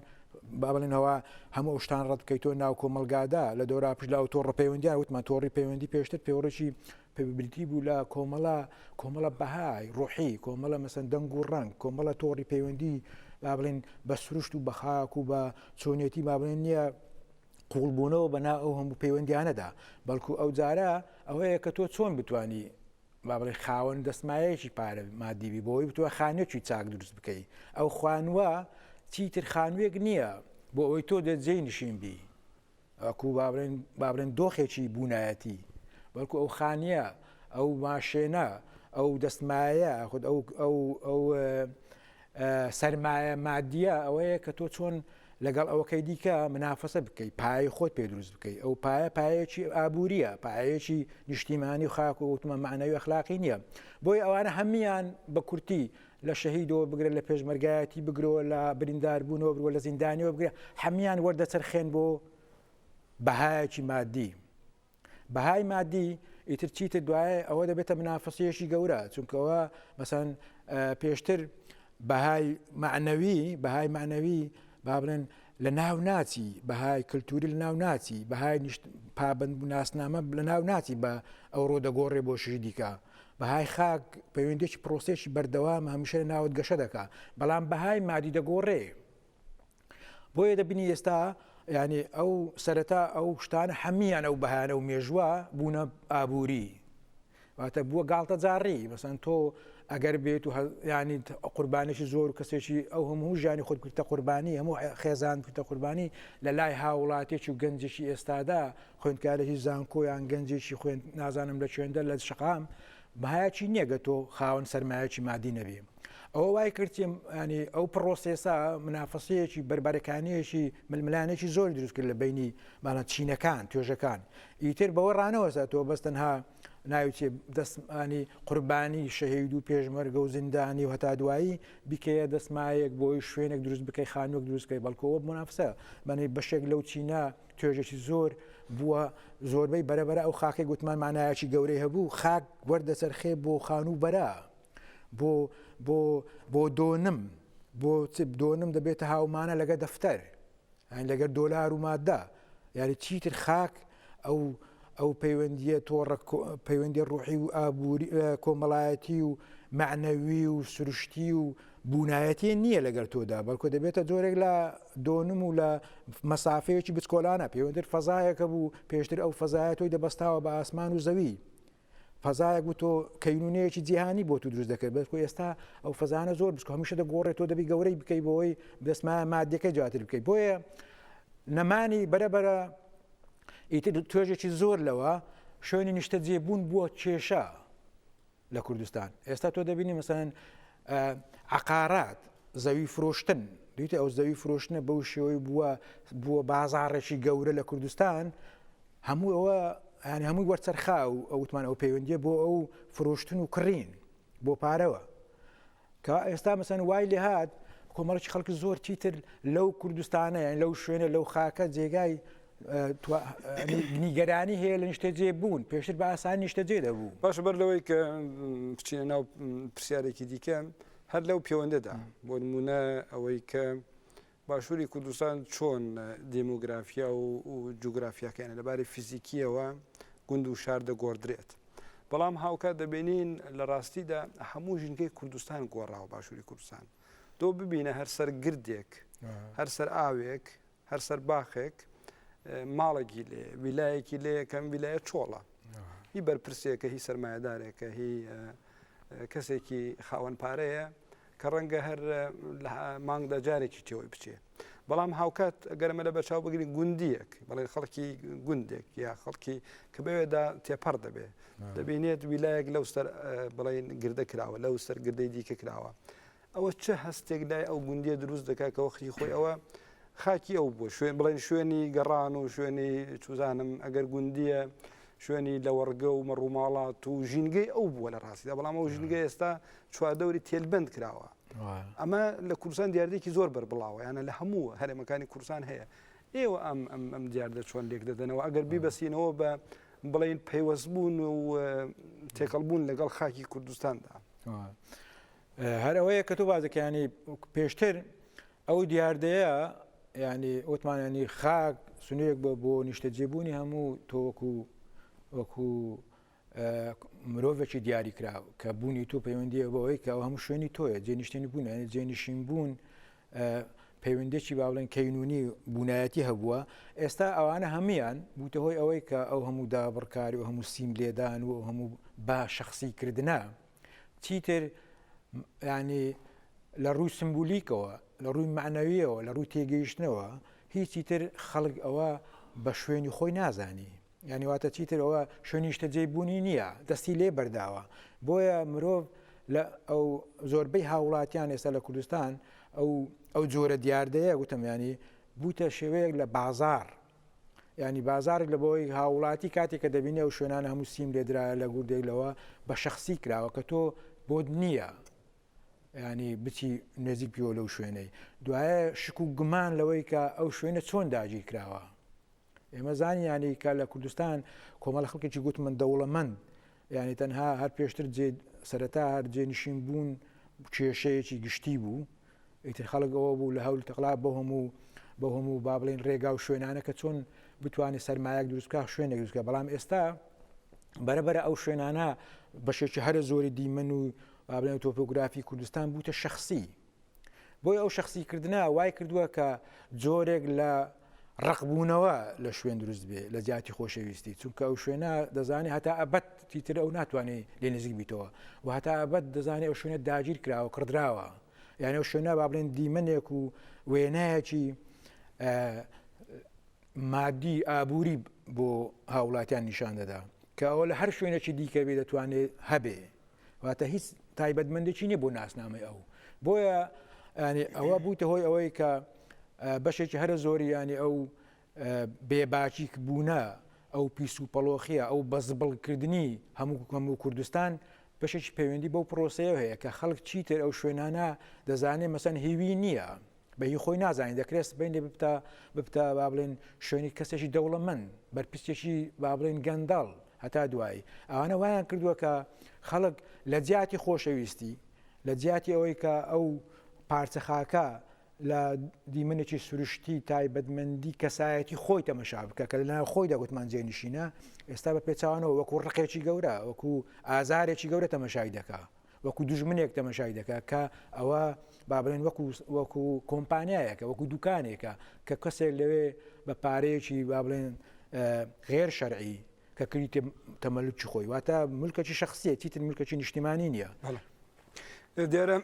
با بڵێنەوە هەموو شتان ڕەتکەی تۆ ناو کۆمەلگادا لە دۆرا پشدا و تۆ ڕپەیوەندیان وتمان تۆڕی پەیوەندی پێشتر پێوەڕێکی بریتی بوو لە کۆمەڵە کۆمەڵە بەهای ڕۆحی کۆمەڵە مەسەن دەنگ و ڕنگ کۆمەڵە تۆڕی پەیوەندی با بڵین بە سروشت و بەخاک و بە چۆنێتی با بڵێن نییە قوڵبوونەوە بەنا ئەو هەموو پەیوەندیانەدا بەڵکو ئەو جارە ئەوەیە کە تۆ چۆن بتانی با بڵێ خاوەن دەستمایەکی پارە مادیبی بۆی بتوە خانێکی چاک دروست بکەی ئەو خوانوە چیتر خانوێک نییە بۆ ئەوەی تۆ دەجێی نشین بی وەکو با بڵێن با بڵێن دۆخێکی بوونایەتی بەڵکو ئەو خانیە ئەو ماشێنە ئەو دەستمایە خود ئەو ئەو ئەو سەرمایە مادیە ئەوەیە کە تۆ چۆن لەگەڵ ئەوەکەی دیکە منافەسە بکەیت پای خۆت پێ دروست بکەیت ئەو پایە پایەکی ئابووریە پایەکی نیشتیمانی و خاک و وتمە معنەوی اخلاقی نییە بۆی ئەوانە هەموان بە کورتی لە شەهیدەوە بگرە لە پێشمەرگایەتی بگرەوە لە برینداربوونەوە بگرە لە زیندانیەوە بگرە هەموان وەردەچەرخێن بۆ بەهایەکی مادی بەهای مادی ئیتر چیتر دوایە ئەوە دەبێتە منافسیەشی گەورە چونکەوە مەسەن پێشتر بەهای معنەوی بەهای معنەوی با بڵێن لە ناو ناچی بەهای کللتوری لە ناو ناچی بەهای پابند ناسنامە لە ناو ناچی بە ئەو ڕۆ دەگۆڕێ بۆ شری دیکە بەهای خاک پەیوەندیەکی پرۆسەیەکی بەردەوامە هەمیشە لە ناوت گەشە دەکا بەڵام بەهای مادی دەگۆڕێ بۆیە دەبینی ئێستا ینی ئەو سەرەتا ئەو شتانە هەمیان ئەو بەهانە و مێژوە بوونە ئابووری واتە بووە گاڵتە جاڕی بەسەن تۆ ئەگەر بێت و ینی قوربانێکی زۆر و کەسێکی ئەو هەموو ژیانی خۆت کرتە قوربانی هەموو خێزان کرتە قوربانی لە لای هاوڵاتێکی و گەنجێکی ئێستادا خوێندکارێکی زانکۆ یان گەنجێکی خوێن نازانم لە چێندە لە شقام بەهایەکی نییەگە تۆ خاوەن سەرمایەکی مادی نەبێ ئەوە وای کردیم ینی ئەو پرۆسێسا منافەسەیەکی بەربارەکانیەکی ململانێکی زۆر دروست کرد لە بینی مانە چینەکان توێژەکان ئیتر بەوە ڕانەوەسا تۆ بەس تەنها ناوچێ دەستمانی قوربانی شەهید و پێشمەرگە و زیندانی و هەتا دوایی بیکەیە دەستمایەک بۆی شوێنێک دروست بکەی خانوەک دروستکەی بەڵکەوە منافسە بەنەی بەشێک لەو چینە توێژێکی زۆر بووە، زۆربەی بەرە بەرە ئەو خاکەی گوتمان مانایەکی گەورەی هەبوو، خاک وەردەچەرخێ بۆ خانوو بەرە، بۆ بۆ بۆ دۆنم، بۆ دۆنم دەبێتە هاومانە لەگە دەفتەر، لەگەر دۆلار و مادە، یاری چیتر خاک ئەو ئەو پەیوەندیە تۆڕە پەیوەندی ڕوحی و ئابووری کۆمەڵایەتی و معنەوی و سروشتی و بوونایەتی نییە لەگەل تۆدا بەلکۆ دەبێتە جۆرێک لە دۆنم و لە مەسافەیەکی بچکۆلانە پێوەندر فەزایەکە بوو پێشتر ئەو فەزایە تۆی دەبەستاوە بە ئاسمان و زەوی فەزایەک بوو تۆ کەینونەیەکی جیهانی بۆ تو دروست دەکرد بەس ئێستا ئەو فەزانە زۆر بچکە هەمیشە دەگۆڕێ تۆ دەبی گەورەی بکەی بۆی دەستما مادەکە جاتر بکەی بۆیە نەمانی بەرەبەرە ئیتر توێژێکی زۆر لەوە شوێنی نیشتە جێبوون بووە کێشە لە کوردستان ئێستا تۆ دەبینی مەسەن عقارات زەوی فرۆشتن دویتە ئەو زەوی فرۆشتنە بەو شێوەی بووە بووە بازاڕێکی گەورە لە کوردستان هەموو ئەوە هەن هەمووی وەرچەرخا و ئەوتمان ئەو پەیوەندیە بۆ ئەو فرۆشتن و کڕین بۆ پارەوە کە ئێستا مەسەن وای لێ هات کۆمەڵکی خەڵکی زۆر چیتر لەو کوردستانە یان لەو شوێنە لەو خاکە جێگای نیگەرانی هەیە لە نیشتەجێ بوون پێشتر بە ئاسان نیشتەجێ دەبوو باش بەر لەوەی کە بچینە ناو پرسیارێکی دیکە هەر لەو پەیوەندەدا بۆ نمونە ئەوەی کە باشوری کوردستان چۆن دیمۆگرافیا و جوگرافیاکەیانە، لەباری فیزیکییەوە گوند و شار دەگۆڕدرێت، بەڵام هاوکات دەبینین لە ڕاستیدا هەموو ژینگەی کوردستان گۆڕاوە، باشوری کوردستان تۆ ببینە هەر سەر گردێک، هەر سەر ئاوێک، هەر سەر باخێک ماڵێکی لێ، ویلایەکی لێ یەکەم ویلایە چۆڵە. هی بەرپرسێکە هی سەرمایەدارێکە هی کەسێکی خاوەن پارەیە کە ڕەنگە هەر لە مانگدا جارێکی تێوەی بچێ بەڵام هاوکات گەرمە لە بەرچاو بگرین گوندیەک بەڵێن خەڵکی گوندێک یا خەڵکی کە بەوێدا تێپەڕ دەبێ دەبینێت ویلایەک لەو سەر بڵین گردە کراوە لەو سەر گردەی دیکە کراوە ئەوە چه هەستێک لای ئەو گوندیە دروست دەکات کە وەختی خۆی ئەوە خاکی ئەو بۆ شوێن بڵێن شوێنی گەڕان و شوێنی چوزانم ئەگەر گوندیە شوێنی لەوەڕگە و مەڕوماڵات و ژینگەی ئەو بووە لە ڕاستیدا بەڵام ئەو ژینگە ئێستا چواردەوری تێلبند کراوە ئەمە لە کوردستان دیاردێکی زۆر بەربڵاوە یانە لە هەموو هەرێمەکانی کوردستان هەیە ئێوە ئەم ئەم ئەم دیاردە چۆن لێک دەدەنەوە ئەگەر بیبەسینەوە بە بڵین پەیوەست بوون و تێکەڵ بوون لەگەڵ خاکی کوردستاندا هەرەوەیە کە تۆ بازەکانی پێشتر ئەو دیاردەیە یانی ئۆتمانانی خاک سنوورێک بۆ بۆ نیشتەجێبوونی هەموو تۆک و وەکو مرۆڤێکی دیاری کرا کە بوونی تۆ پەیوەندی بەوەی کە ئەو هەموو شوێنی تۆیە جێنیشتنی بوون یعنی جێنشین بوون پەیوەندێکی باڵێن کەینونی بوونایەتی هەبووە ئێستا ئەوانە هەمویان بوتە هۆی ئەوەی کە ئەو هەموو دابڕکاری و هەموو سیم لێدان و هەموو با شخصی کردە چیتر ینی لە ڕووی سمبولیکەوە لە ڕووی معنەویەوە لە ڕووی تێگەیشتنەوە هیچی تر خەڵک ئەوە بە شوێنی خۆی نازانی ینی واتە چیتر ئەوە شوێنیشتە جێ بوونی نییە دەستی لێ بەرداوە بۆیە مرۆڤ لە ئەو زۆربەی هاوڵاتیان ئێستا لە کوردستان ئەو ئەو جۆرە دیاردەیە گوتم ینی بوتە شێوەیەک لە بازار یانی بازاڕێک لە بەوەی هاوڵاتی کاتێک کە دەبینی ئەو شوێنانە هەموو سیم لێدرایە لە گوردێک لەوە بە شخصی کراوە کە تۆ بۆت نییە ینی بچی نێزیک پیۆ لەو شوێنەی دوایە شک و گومان لەوەی کە ئەو شوێنە چۆن داگیر کراوە ئێمە زانیانی کە لە کوردستان کۆمەڵ خەڵکێکی گوتمن دەوڵەمەند یانی تەنها هەر پێشتر جێ سەرەتا هەر جێ نشین بوون کێشەیەکی گشتی بوو ئیتر خەڵک ئەوە بوو لە هەول تەقلا بۆ هەموو بۆ هەموو با بڵین ڕێگا و شوێنانە کە چۆن بتوانێت سەرمایەک دروستکە شوێنێک دروستکە بەڵام ئێستا بەرەبەرە ئەو شوێنانە بەشێکی هەرە زۆری دیمەن و بابلێن تۆپۆگرافی کوردستان بووتە شخصی بۆیە ئەو شخصی کردنە وای کردووە کە جۆرێک لە ڕقبوونەوە لە شوێن دروست بێ لە جیاتی خۆشەویستی چونکە ئەو شوێنە دەزانێت هەتا ئەبەت تیتر ئەو ناتوانێت لێ نزیک بیتەوە و هەتا ئەبەت دەزانێت ئەو شوێنە داگیر کراوە کڕدراوە یانە و شوێنە با بڵێن دیمەنێک و وێنایەکی مادی ئابووری بۆ هاوڵاتیان نیشان دەدا کە ئەوە لە هەر شوێنێکی دیکەبێ دەتوانێت هەبێ واتە هیچ تایبەتمەندێکی نیە بۆ ناسنامەی ئەو بۆیە ینی ئەوە بووتە هۆی ئەوەی کە بەشێکی هەرە زۆری ینی ئەو بێباچیک بوونە ئەو پیس و پەڵۆخیە ئەو بەزبڵکردنی هەموو کوکەم و کوردستان بەشێکی پەیوەندی بەو پرۆسەیە هەیە کە خەڵک چیتر ئەو شوێنانە دەزانێت مەسەن هیوی نییە بە هی خۆی نازانین دەکرێت سبین لێ ببتە ببتە با بڵێن شوێنی کەسێکی دەوڵەمەند بەرپسێکی با بڵێن گەنداڵ هەتا دوایی ئەوانە وایان کردووە کە خەڵک لە جیاتی خۆشەویستی لە جیاتی ئەوەی کە ئەو پارچە خاکە لە دیمەنێکی سروشتی تایبەتمەندی کەسایەتی خۆی تەمەشا بکە کە لەناو خۆیدا گوتمان جێنشینە ئێستا بە پێچوانەوە وەکو ڕقێکی گەورە وەکو ئازارێکی گەورە تەمەشای دەکە وەکو دوژمنێک تەمەشای دەکات کە ئەوە با بڵێن وەکو وەکو کۆمپانیایەکە وەکو دوکانێکە کە کەسێک لەوێ بە پارەیەکی با بڵێن غێر شەرعی کە کریتە تەمەلکی خۆی واتە ملکەکی شخصیە چیتر ملکەکی نیشتیمانی نییە دێرە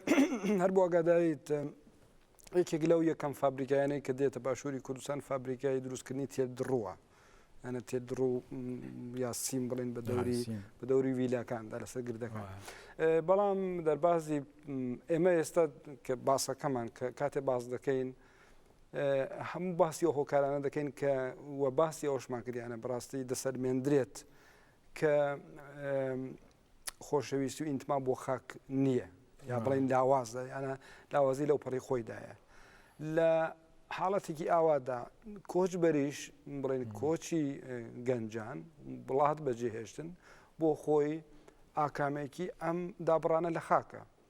هەر بۆ ئەگادایت یەکێک لەو یەکەم فابریکایانەی کە دێتە باشووری کوردستان فابریکای دروستکردنی تێر دڕوە یانە تێ دڕ و یا سیم بڵێن بە دەوری بە دەوری ویلاکاندا لەسەر گردەکان بەڵام دەربازی ئێمە ئێستا کە باسەکەمان کە کاتێ باز دەکەین هەموو باسی و هۆکارانە دەکەین کە وە باسی ئەوشمان کردیانە بڕاستی دەسەلمێندرێت کە خۆشەویستی و ئینتما بۆ خاک نییە یا بڵین لاوازە یانە لاوازی لەو پەڕی خۆیدایە لە حاڵەتێکی ئاوادا کۆچ بەریش بڵێن کۆچی گەنجان بڵات بەجێهێشتن بۆ خۆی ئاکامێکی ئەم دابڕانە لە خاکە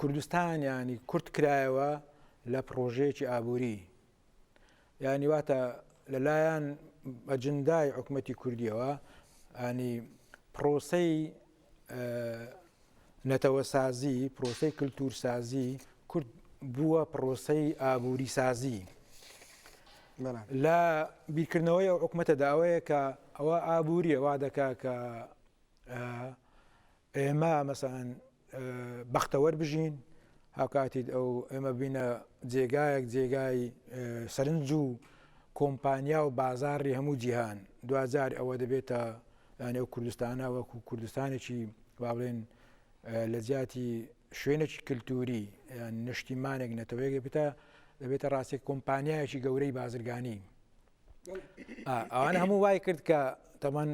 کوردستان یانی کورت کرایەوە لە پڕۆژەیەکی ئابووری یانی واتە لەلایەن ئەجندای حکوومەتی کوردیەوە ئانی پرۆسەی نەتەوە سازی پرۆسەی کللتور سازی کورد بووە پرۆسەی ئابووری سازی لە بیرکردنەوەی ئەو حکوومەتە داوەیە کە ئەوە ئابووریە وا دەکا کە ئێمە مەسەلەن بەختەوەر بژین هاوکاتی ئەو ئێمە ببینە جێگایەک جێگای سەرنج و کۆمپانیا و بازاری هەموو جیهان دوجار ئەوە دەبێتە نێو کوردستانە وەکو کوردستانێکی باڵێن لە جیاتی شوێنێکی کللتوری یان نیشتیمانێک نەتەوەیەک بێتە دەبێتە ڕاستێک کۆمپانیایەکی گەورەی بازرگانی ئەوان هەموو وای کرد کە تەمان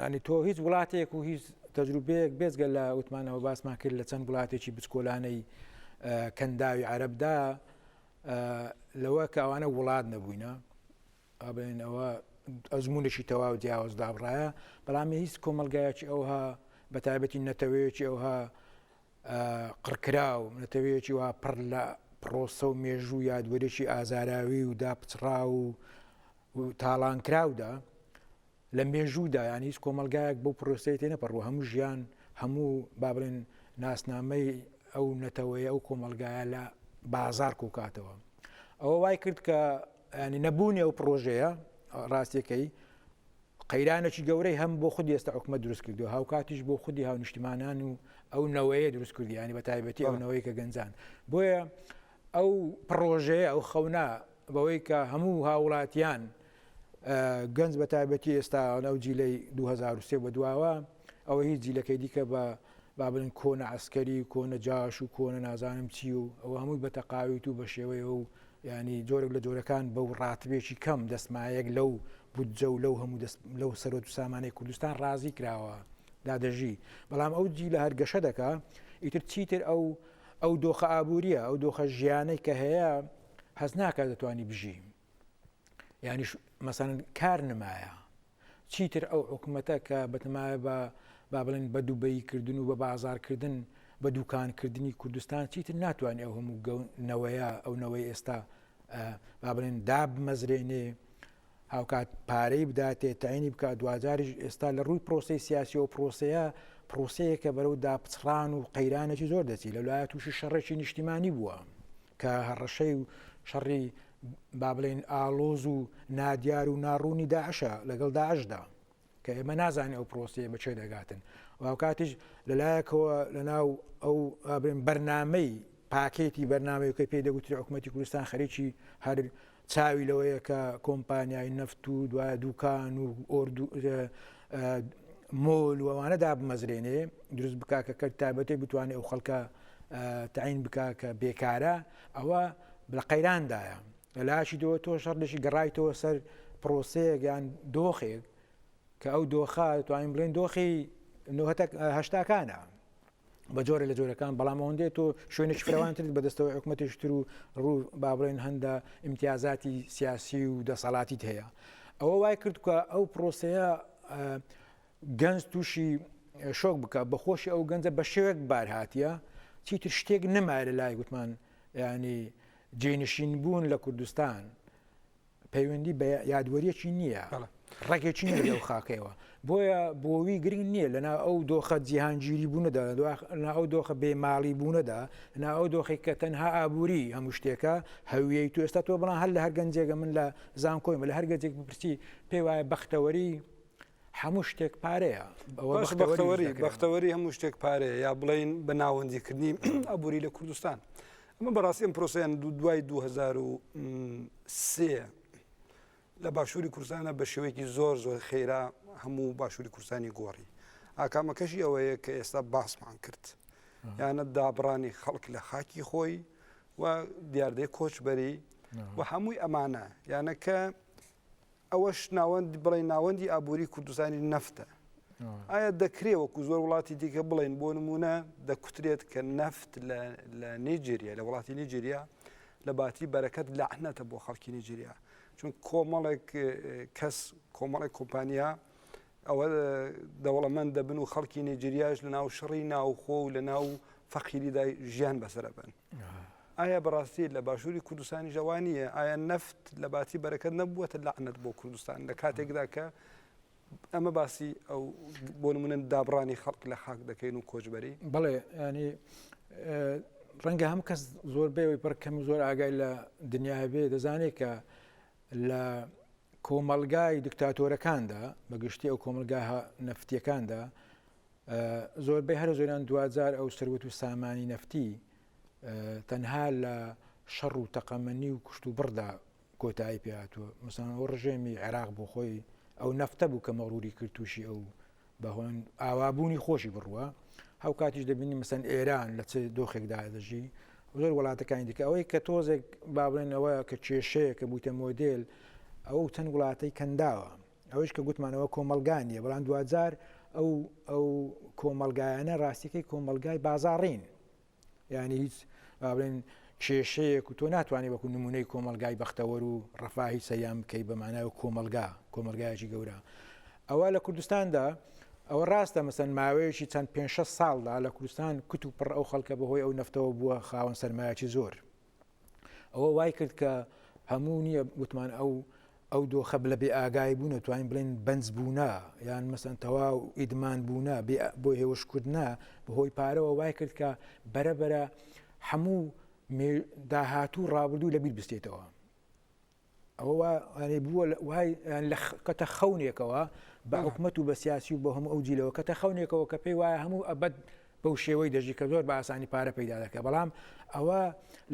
ینی تۆ هیچ وڵاتێک و هیچ تەجروبەیەک بێزگە لە وتمانەوە باسمان کرد لە چەند وڵاتێکی بچکۆلانەی کەنداوی عربدا لەوە کە ئەوانە وڵات نەبووینە ئابێن ئەوە ئەزمونێکی تەواو جیاواز دابڕایە بەڵامی هیچ کۆمەلگایەکی ئەوها بە تایبەتی نەتەوەیەکی ئەوها قڕکراو، نەتەوەیەکی وا پڕ لە پڕۆسە و مێژوو و یادوەریی ئازاراوی و داپچڕاو و تاڵانکراودا، لە مێژوودا یان هیچ کۆمەلگایەک بەو پرۆسەی تێ نەپەڕوە هەموو ژیان هەموو با بڵێن ناسنامەی ئەو نەتەوەیە ئەو کۆمەلگایە لە بازار کۆکاتەوە ئەوە وای کرد کە یانی نەبوونی ئەو پڕۆژەیە ڕاستیەکەی قەیرانێکی گەورەی هەم بۆ خودی ئێستا حکومە دروست کردو هاوکاتیش بۆ خودی هاونیشتمانان و ئەو نەوەیە دروست کردیانی بە تایبەتی ئەو نەوەی کە گەنجان بۆیە ئەو پڕۆژەیە ئەو خەونا بەوەی کە هەموو هاوڵاتیان گەنج بە تایبەتی ئێستا ئەو جیلەی 2023 بە دواوە ئەوە هیچ جیلەکەی دیکە بە با بڵێن کۆنە عسکەری و کۆنە جاش و کۆنە نازانم چی و ئەوە هەمووی بە تەقاویت و بە شێوەیە و ینی جۆرێک لە جۆرەکان بە و ڕاتبێکی کەم دەستمایەک لەو بودجە و لەو هەموو لەو سەرۆت و سامانەی کوردستان ڕازی کراوە دادەژی بەڵام ئەو جی لە هەرگەشە دەکا ئیتر چیتر ئەو ئەو دۆخە ئابوووریە ئەو دۆخە ژیانەی کە هەیە هەز ناکە دەتوانی بژی یعنی مەسەن کار نمایە چیتر ئەو حکومەتە کە بەتەمایە بە با بڵێن بە دوبەی کردن و بە بازارکردن بە دوکان کردنی کوردستان چیتر ناتوانێت ئەو هەموو گەون نەوەیە ئەو نەوەی ئێستا با بڵێن دابمەزرێنێ هاوکات پارەی بداتێ تاینی بکە دواجاریش ئێستا لە ڕووی پرۆسی سیاسی و پرۆسەیە پرۆسەیە کە بەرەو داپچڕان و قەیرانێکی زۆر دەچی لە لایە تووشی شەڕێکی نیشتیمانی بووە کە هەڕەشەی و شەڕی با بڵێین ئاڵۆز و نادیار و ناڕوونی داعشە لەگەڵ داعشدا کە ئێمە نازانین ئەو پرۆسیە بە چێ دەگاتن و کاتیش لەلایەکەوە لە ناو ئەو ئابرێن بەرنمەی پاکێتی بەرنمەکەی پێ دەگوتری حکوومەتتی کوردستان خەریکی هەر چاوی لەوەیە کە کۆمپانیای نەفت و دوای دوکان و ئۆردو مۆل وەوانە دابمەزرێنێ دروست بکە کە کەر تابەتێ بتوانێت ئەو خەڵکە تعین بکە کە بێکارە ئەوە لە قەیراندایە لە لاشی دۆ تۆ شەڕدەشی گەڕایتەوە سەر پرۆسەیەک یان دۆخێک کە ئەو دۆخە توانین بڵێن دۆخی هەشتاکانە بە جۆرە لە جۆرەکان بەڵام ئەوەندێت تۆ شوێنێک فرەوانترت بەدەستەوە حکوومەتیشتر و ڕوو بابڵێن هەندە امتیازاتی سیاسی و دەسەڵاتیت هەیە ئەوە وای کرد کە ئەو پرۆسەیە گەنج توشی شۆک بکە بەخۆشی ئەو گەنجە بە شێوێک بار هااتە چیتر شتێک نەمایە لە لای گوتمان ینی جێنشین بوون لە کوردستان پەیوەندی بە یادوەریەکی نییە ڕێکێکی نیە لەو خاکەوە بۆیە بۆوی گرنگ نییە لەنا ئەو دۆخە جیهانگیری بوونەدا لە ئەو دۆخە بێماڵی بوونەدا نا ئەو دۆخی کە تەنها ئابووری هەموو شتێکە هەویەی تو ئێستا تۆ بڵان هەر لە هەرگەنجێگە من لە زانکۆی مە لە هەرگەجێک بپرسی پێ وایە بەختەوەری هەموو شتێک پارەیە بەختەوەری بەختەوەری هەموو شتێک پارەیە یا بڵین بە ناوەندیکردنی ئەبووری لە کوردستان ئەمە بەڕاستی ئەم پرۆسیان دو دوای 2023 لە باشووری کورسانە بە شێوەیەکی زۆر زۆر خێرا هەموو باشووری کورسانی گۆڕی ئاکامەکەشی ئەوەیە کە ئێستا باسمان کرد یانە دابڕانی خەڵک لە خاکی خۆی و دیاردەی کۆچبەری و هەمووی ئەمانە یانەکە ئەوەش ناوەند بڵێ ناوەندی ئابووری کوردستانی نەفتە ئایا دەکرێ وەکو زۆر وڵاتی دیکە بڵێن بۆ نمونە دەکوترێت کە نەفت لە نیجیریا لە وڵاتی نیجیریا لە باتی بەرەکەت لەعنەتە بۆ خەڵکی نیجیریا چون کۆمەڵێک کەس کۆمەڵێک کۆمپانیا ئەوە دەوڵەمەند دەبن و خەڵکی نێجریاش لە ناو شەڕی ناوخۆ و لە ناو فەقیریدا ژیان بەسەرەبن ئایا بەڕاستی لە باشووری کوردستانی ژەوانیە ئایا نەفت لە باتی بەرەکەت نەبووەتە لەعنەت بۆ کوردستان لە کاتێکدا کە ئەمە باسی ئەو بۆ نمونن دابڕانی خەڵک لە خاک دەکەین و کۆچبەری بڵێ ینی ڕەنگە هەم کەس زۆر بێەوەی پڕکەم زۆر ئاگای لە دنیاە بێ دەزانێت کە لە کۆمەڵگای دکتاتۆرەکاندا بە گشتی ئەو کۆمەلگا نەفتیەکاندا زۆربەی هەرە زۆران دواجار ئەو سەروەت و سامانی نەفتی تەنها لە شەڕ و تەقەمەنی و کوشت و بڕدا کۆتایی پێاتوە مسان ئەو ڕژێمی عێراق بۆ خۆی ئەو نەفتە بوو کە مەڕوری کرد تووشی ئەو بە هۆن ئاوابوونی خۆشی بڕوە هاوکاتیش دەبینی مەسەن ئێران لە چ دۆخێکدا دەژی زۆر وڵاتەکانی دیکە ئەوەی کە تۆزێک بابێنەوە کە کێشەیە کە بووتە مۆدل ئەو چەند وڵاتەی کەنداوە ئەوش کە گوتمانەوە کۆمەلگانیە بەڵام دوجار ئەو ئەو کۆمەلگایانە ڕاستیەکەی کۆمەلگای بازاڕین یانی هیچ با بڵێن کێشەیەک و تۆ ناتوانانی وەکو نمونەی کۆمەلگای بەختەوەر و ڕفاهی سەریان بکەیت بە مانای و کۆمەلگا کۆمەلگایکی گەورە ئەوە لە کوردستاندا ئەوە ڕاستە مەسەن ماوەیەکی چەند پێ ساڵدا لە کوردستان کت و پڕ ئەو خەڵکە بەهۆی ئەو نەفتەوە بووە خاوەن سەرمایەکی زۆر ئەوە وای کرد کە هەموو نییە وتمان ئەو ئەو دۆخە بلە بێ ئاگای بوونە توانین بڵێن بەنج بوونە یان مەسەن تەواو ئیدمان بوونە بۆ هێوشکردە بەهۆی پارەوە وای کرد کە بەرەبەرە هەموو داهاتوو ڕابردوو لەبییر بستێتەوە ئەوە وا ئەنی بووە لە- وای یان لە خ- کەتە خەونێکەوە بە بەڵێ. حکومەت و بە سیاسی و بە هەموو ئەو جیلەوە کەتە خەونێکەوە کە پێی وایە هەموو ئەبەد بەو شێوەی دەژی کە زۆر بە ئاسانی پارە پەیدا دەکە بەڵام ئەوە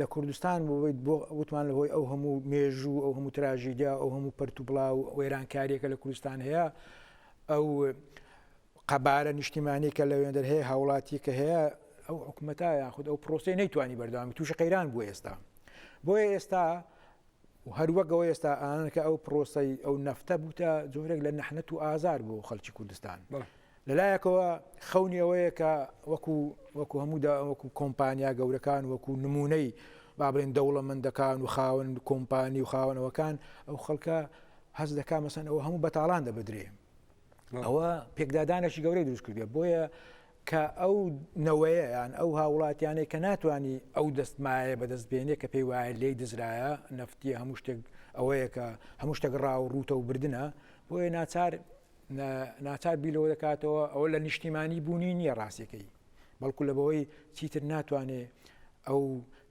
لە کوردستان بۆیت بۆ وتمان لەهۆی ئەو هەموو مێژوو ئەو هەموو تراژیدیا ئەو هەموو پرت و بڵاو و وێرانکاریەکە لە کوردستان هەیە ئەو قەبارە نیشتیمانی کە لە وێندەر هەیە هاوڵاتی کە هەیە ئەو حکومەتە یاخود ئەو پرۆسی نەیتوانی بەردەوامی تووشی قەیران بوو ئێستا بۆیە ئێستا و هەر وەک ئەوەی ئێستا ئانان کە ئەو پرۆسەی ئەو نەفتە بووتە جۆرێک لە نەحنەت و ئازار بۆ خەڵکی کوردستان لەلایەکەوە خەونی ئەوەیە کە وەکو وەکو هەموودا وەکو کۆمپانیا گەورەکان وەکو نمونەی بابلین دەوڵەمەندەکان و خاون کۆمپانی و خاونەوەکان ئەو خەڵکە هەز دەکا مەسەن ئەوە هەموو بەتاڵان دەبدرێ ئەوە پێکدادانێکی گەورەی دروست کردێ بۆیە کە ئەو نەوەیە یان ئەو هاووڵاتیانەی کە ناتوانانی ئەو دەست مایە بەدەست بێنێ کە پێی وایە لێی دزرایە نەفتیە هەموو شتێک ئەوەیە کە هەموو شتێک ڕاو و ڕووتە و بردنە بۆیە ناچار ناچار بیلەوە دەکاتەوە ئەوە لە نیشتیمانی بوونی نییە ڕاستەکەی بەڵکو لە بەوەی چیتر ناتوانێ ئەو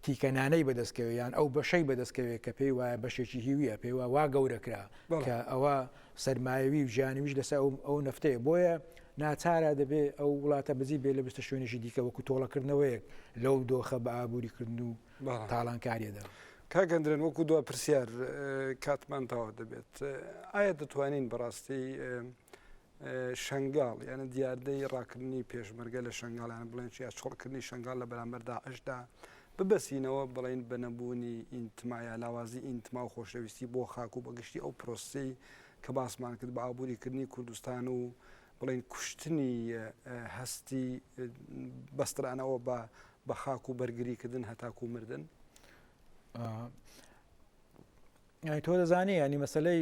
تیکەنانەی بەدەستکەوێ یان ئەو بەشەی بەدەستکەوێت کە پێی وایە بەشێکی هیویە پێی وا گەورەکرا کە ئەوە سەرمایەوی و جانیویش لەسەر ئەو ئەو نەفتەیە بۆیە ناچارە دەبێ ئەو وڵاتە بزی بێ لە بستە شوێنێکی دیکە وەکو تۆڵەکردنەوەیەک لەو دۆخە بە ئابووری کردن و تاڵانکاریەدا کاگەندرێن وەکو دو پرسیار کاتمان تاوا دەبێت ئایا دەتوانین بەڕاستی شنگال یعنی دیاردەی ڕاکردنی پێشمەرگە لە شنگالان بڵێن چیا چڕکردنی شنگال لە بەرامبەردا ئەشدا ببەستینەوە بڵێین بە نەبوونی ئینتما یا لاوازی ئینتما و خۆشەویستی بۆ خاک و بە گشتی ئەو پرۆسەی کە باسمان کرد بە ئابووری کردنی کوردستان و بڵێین کوشتنی هەستی بەسترانەوە بە بە خاک و بەرگری کردن هەتاکو مردن ینی تۆ دەزانانی ینی مەسلەی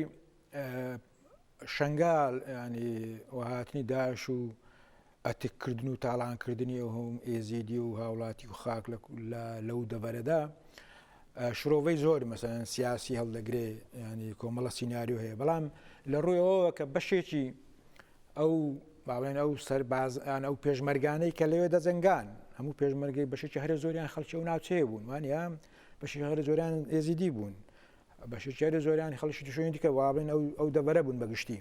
شەنگال یانی و هاتنی داعش و ئەتک کردن و تاڵان کردنی ئەو هەم ئێزیدی و هاوڵاتی و خاک لەو دەڤەرەدا شرۆڤەی زۆر مەسەن سیاسی هەڵدەگرێ ینی کۆمەڵە سینناریو هەیە بەڵام لە ڕوویەوە کە بەشێکی ئەو باڵێن ئەو سەربازان ئەو پێشمەرگانەی کە لەوێ دەجنگان هەموو پێشمەرگی بەشێکی هەرە زۆریان خەڵکی و ناوچەیە بوون وانە بەشی هەرە زۆران ئێزیدی بوون بەشێکیاری زۆریانی خەڵکی توشونی دیکە وابن ئەو ئەو دەبەرە بوون بەگشتی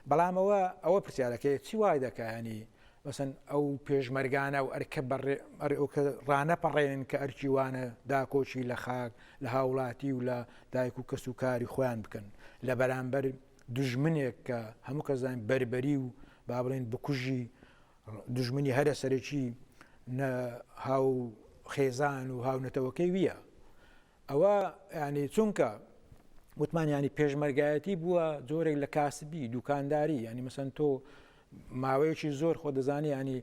بەڵام ئەوە ئەوە پرسیارەکەی چی وای دەکایانی مەسن ئەو پێشمەرگانە و ئەرکە بەڕێ ڕانەپەڕێنن کە ئەرکی وانە داکۆچی لە خاک لە هاوڵاتی و لە دایک و کەس و کاری خۆیان بکەن لە بەرامبەر دژمنێک کە هەموو کەزان بربەری و با بڵێن بکوژی دژمنی هەرە سەرەکی هاو خێزان و هاونەتەوەکەی ویە ئەوە یانی چونکە وتمان ینی پێشمەرگایەتی بووە جۆرێک لە کاسبی دوکانداری ینی مەسەن تۆ ماوەیەکی زۆر خۆ دەزانی ینی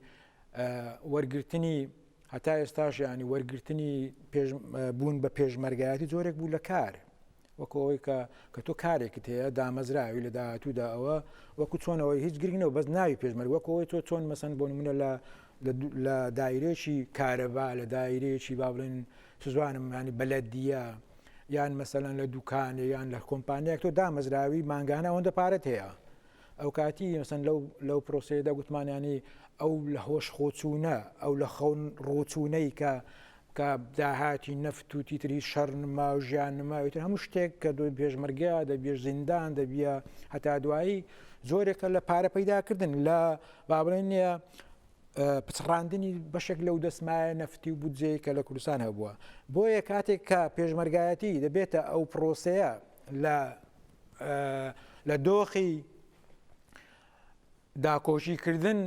وەرگرتنی هەتا ئێستاش ینی وەرگرتنی بوون بە پێشمەرگایەتی جۆرێک بوو لە کار وەکەوەی کە کە تۆ کارێکت هەیە دامەزراوی لە داهاتوودا ئەوە وەکو چۆنەوەی هیچ گرنگەوە بەس ناوی پێشمەرگ وەکەوەی تۆ چۆن مەسەن بۆ منە لە لە دایرێکی کارەبا لە دایرێکی با بڵێن چزانم ینی بەلەدیە یان مەسەلەن لە دوکانێ یان لە کۆمپانیایەک تۆ دامەزراوی مانگانە ئەوەندە پارەت هەیە ئەو کاتی مەسەن لەو لەو پرۆسەیەدا گوتمانیانی ئەو لە هۆش خۆچوونە ئەو لە خەون ڕۆچوونەی کە کە داهاتی نەفت و تیتری شەڕ نما و ژیان نماویتر هەموو شتێک کە دوی پێشمەرگە دەبێ زیندان دەبیە هەتا دوایی زۆرێکە لە پارە پەیداکردن لە بابڵێن نیە پچڕاندنی بەشێک لەو دەسمایە نەفتی و بودجەیە کە لە کوردستان هەبووە بۆیە کاتێک کە پێشمەرگایەتی دەبێتە ئەو پرۆسەیە لە لە دۆخی داکۆشی کردن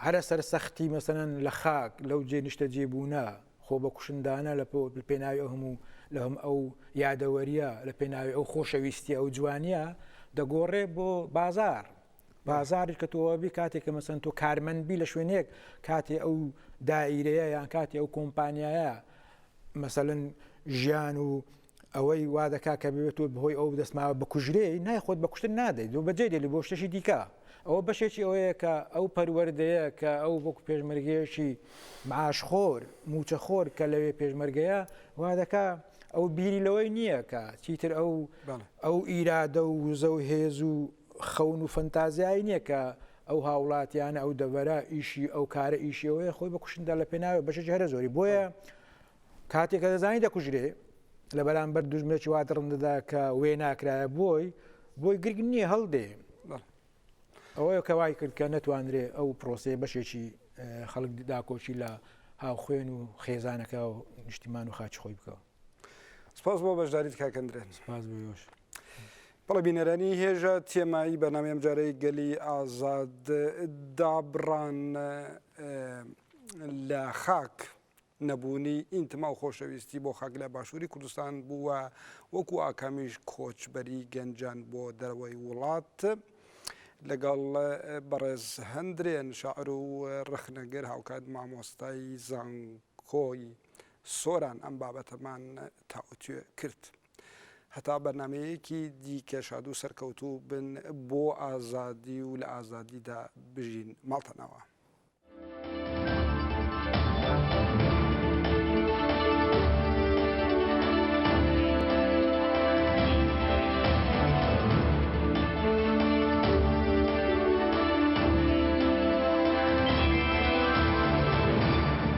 هەرە سەرسەختی مەسەن لە خاک لەو جێ نیشتە جێبوونە خۆ بە کوشندانە لە پێناوی ئەو هەموو لە هەم ئەو یادەوەریە لە پێناوی ئەو خۆشەویستی ئەو جوانیە دەگۆڕێ بۆ بازار بازاڕی کە تۆبی کاتێک کە مەسەن تۆ کارمەند بی لە شوێنێک کاتی ئەو دایرەیە یان کاتی ئەو کۆمپانیایە مەسەن ژیان و ئەوەی وا دەکا کە بێت و بەهۆی ئەو دەستماوە بکوژرێ نای خۆت بەکوشتن نادەیت و بەجێ دێلی بۆ شتێکی دیکە ئەوە بەشێکی ئەوەیە کە ئەو پەروەردەیە کە ئەو وەک پێشمەرگەیەکی معاشخۆر موچەخۆر کە لەوێ پێشمەرگەیە وا دەکا ئەو بیری لەوەی نییە کە چیتر ئەو ئەو ئیرادە و وزە و هێز و خەون و فەنتازیایی نیە کە ئەو هاوڵاتیانە ئەو دەڤەرە ئیشی ئەو کارە ئیشی ئەوەیە خۆی بکوشندا لە پێناوە بەشێکی هەرە زۆری بۆیە کاتێکە دەزانی دەکوژرێ لە بەرامبەر دوژمنێکی وا دڕندەدا کە وێ ناکرایە بۆی بۆی گرگ نییە هەڵدێ ئەوەیە کەوای کرد کە نەتوانرێ ئەو پرۆسەیە بەشێکی خەڵک داکۆکی لە هاوخوێن و خێزانەکە و نیشتیمان و خاچ خۆی بکەوە سپاس بۆ بەشداریت کاکەندرێن سپاس بۆ یۆش بەڵێ بینەرانی هێژە تێمایی بەنامی ئەم جارەی گەلی ئازاد دابڕان لە خاک نەبوونی ئینتما و خۆشەویستی بۆ خاک لە باشووری کوردستان بووە وەکو ئاکامیش کۆچبەری گەنجان بۆ دەرەوەی وڵات. لەگەڵ بەڕێز هەندرێن شاعر و ڕخنەگر هاوکات مامۆستای زانکۆی سۆران ئەم بابەتەمان تاوتوێ کرد. هەتا بەرنامەیەکی دیکە شاد و سەرکەوتوو بن بۆ ئازادی و لە ئازادیدا بژین ماڵتەنەوە.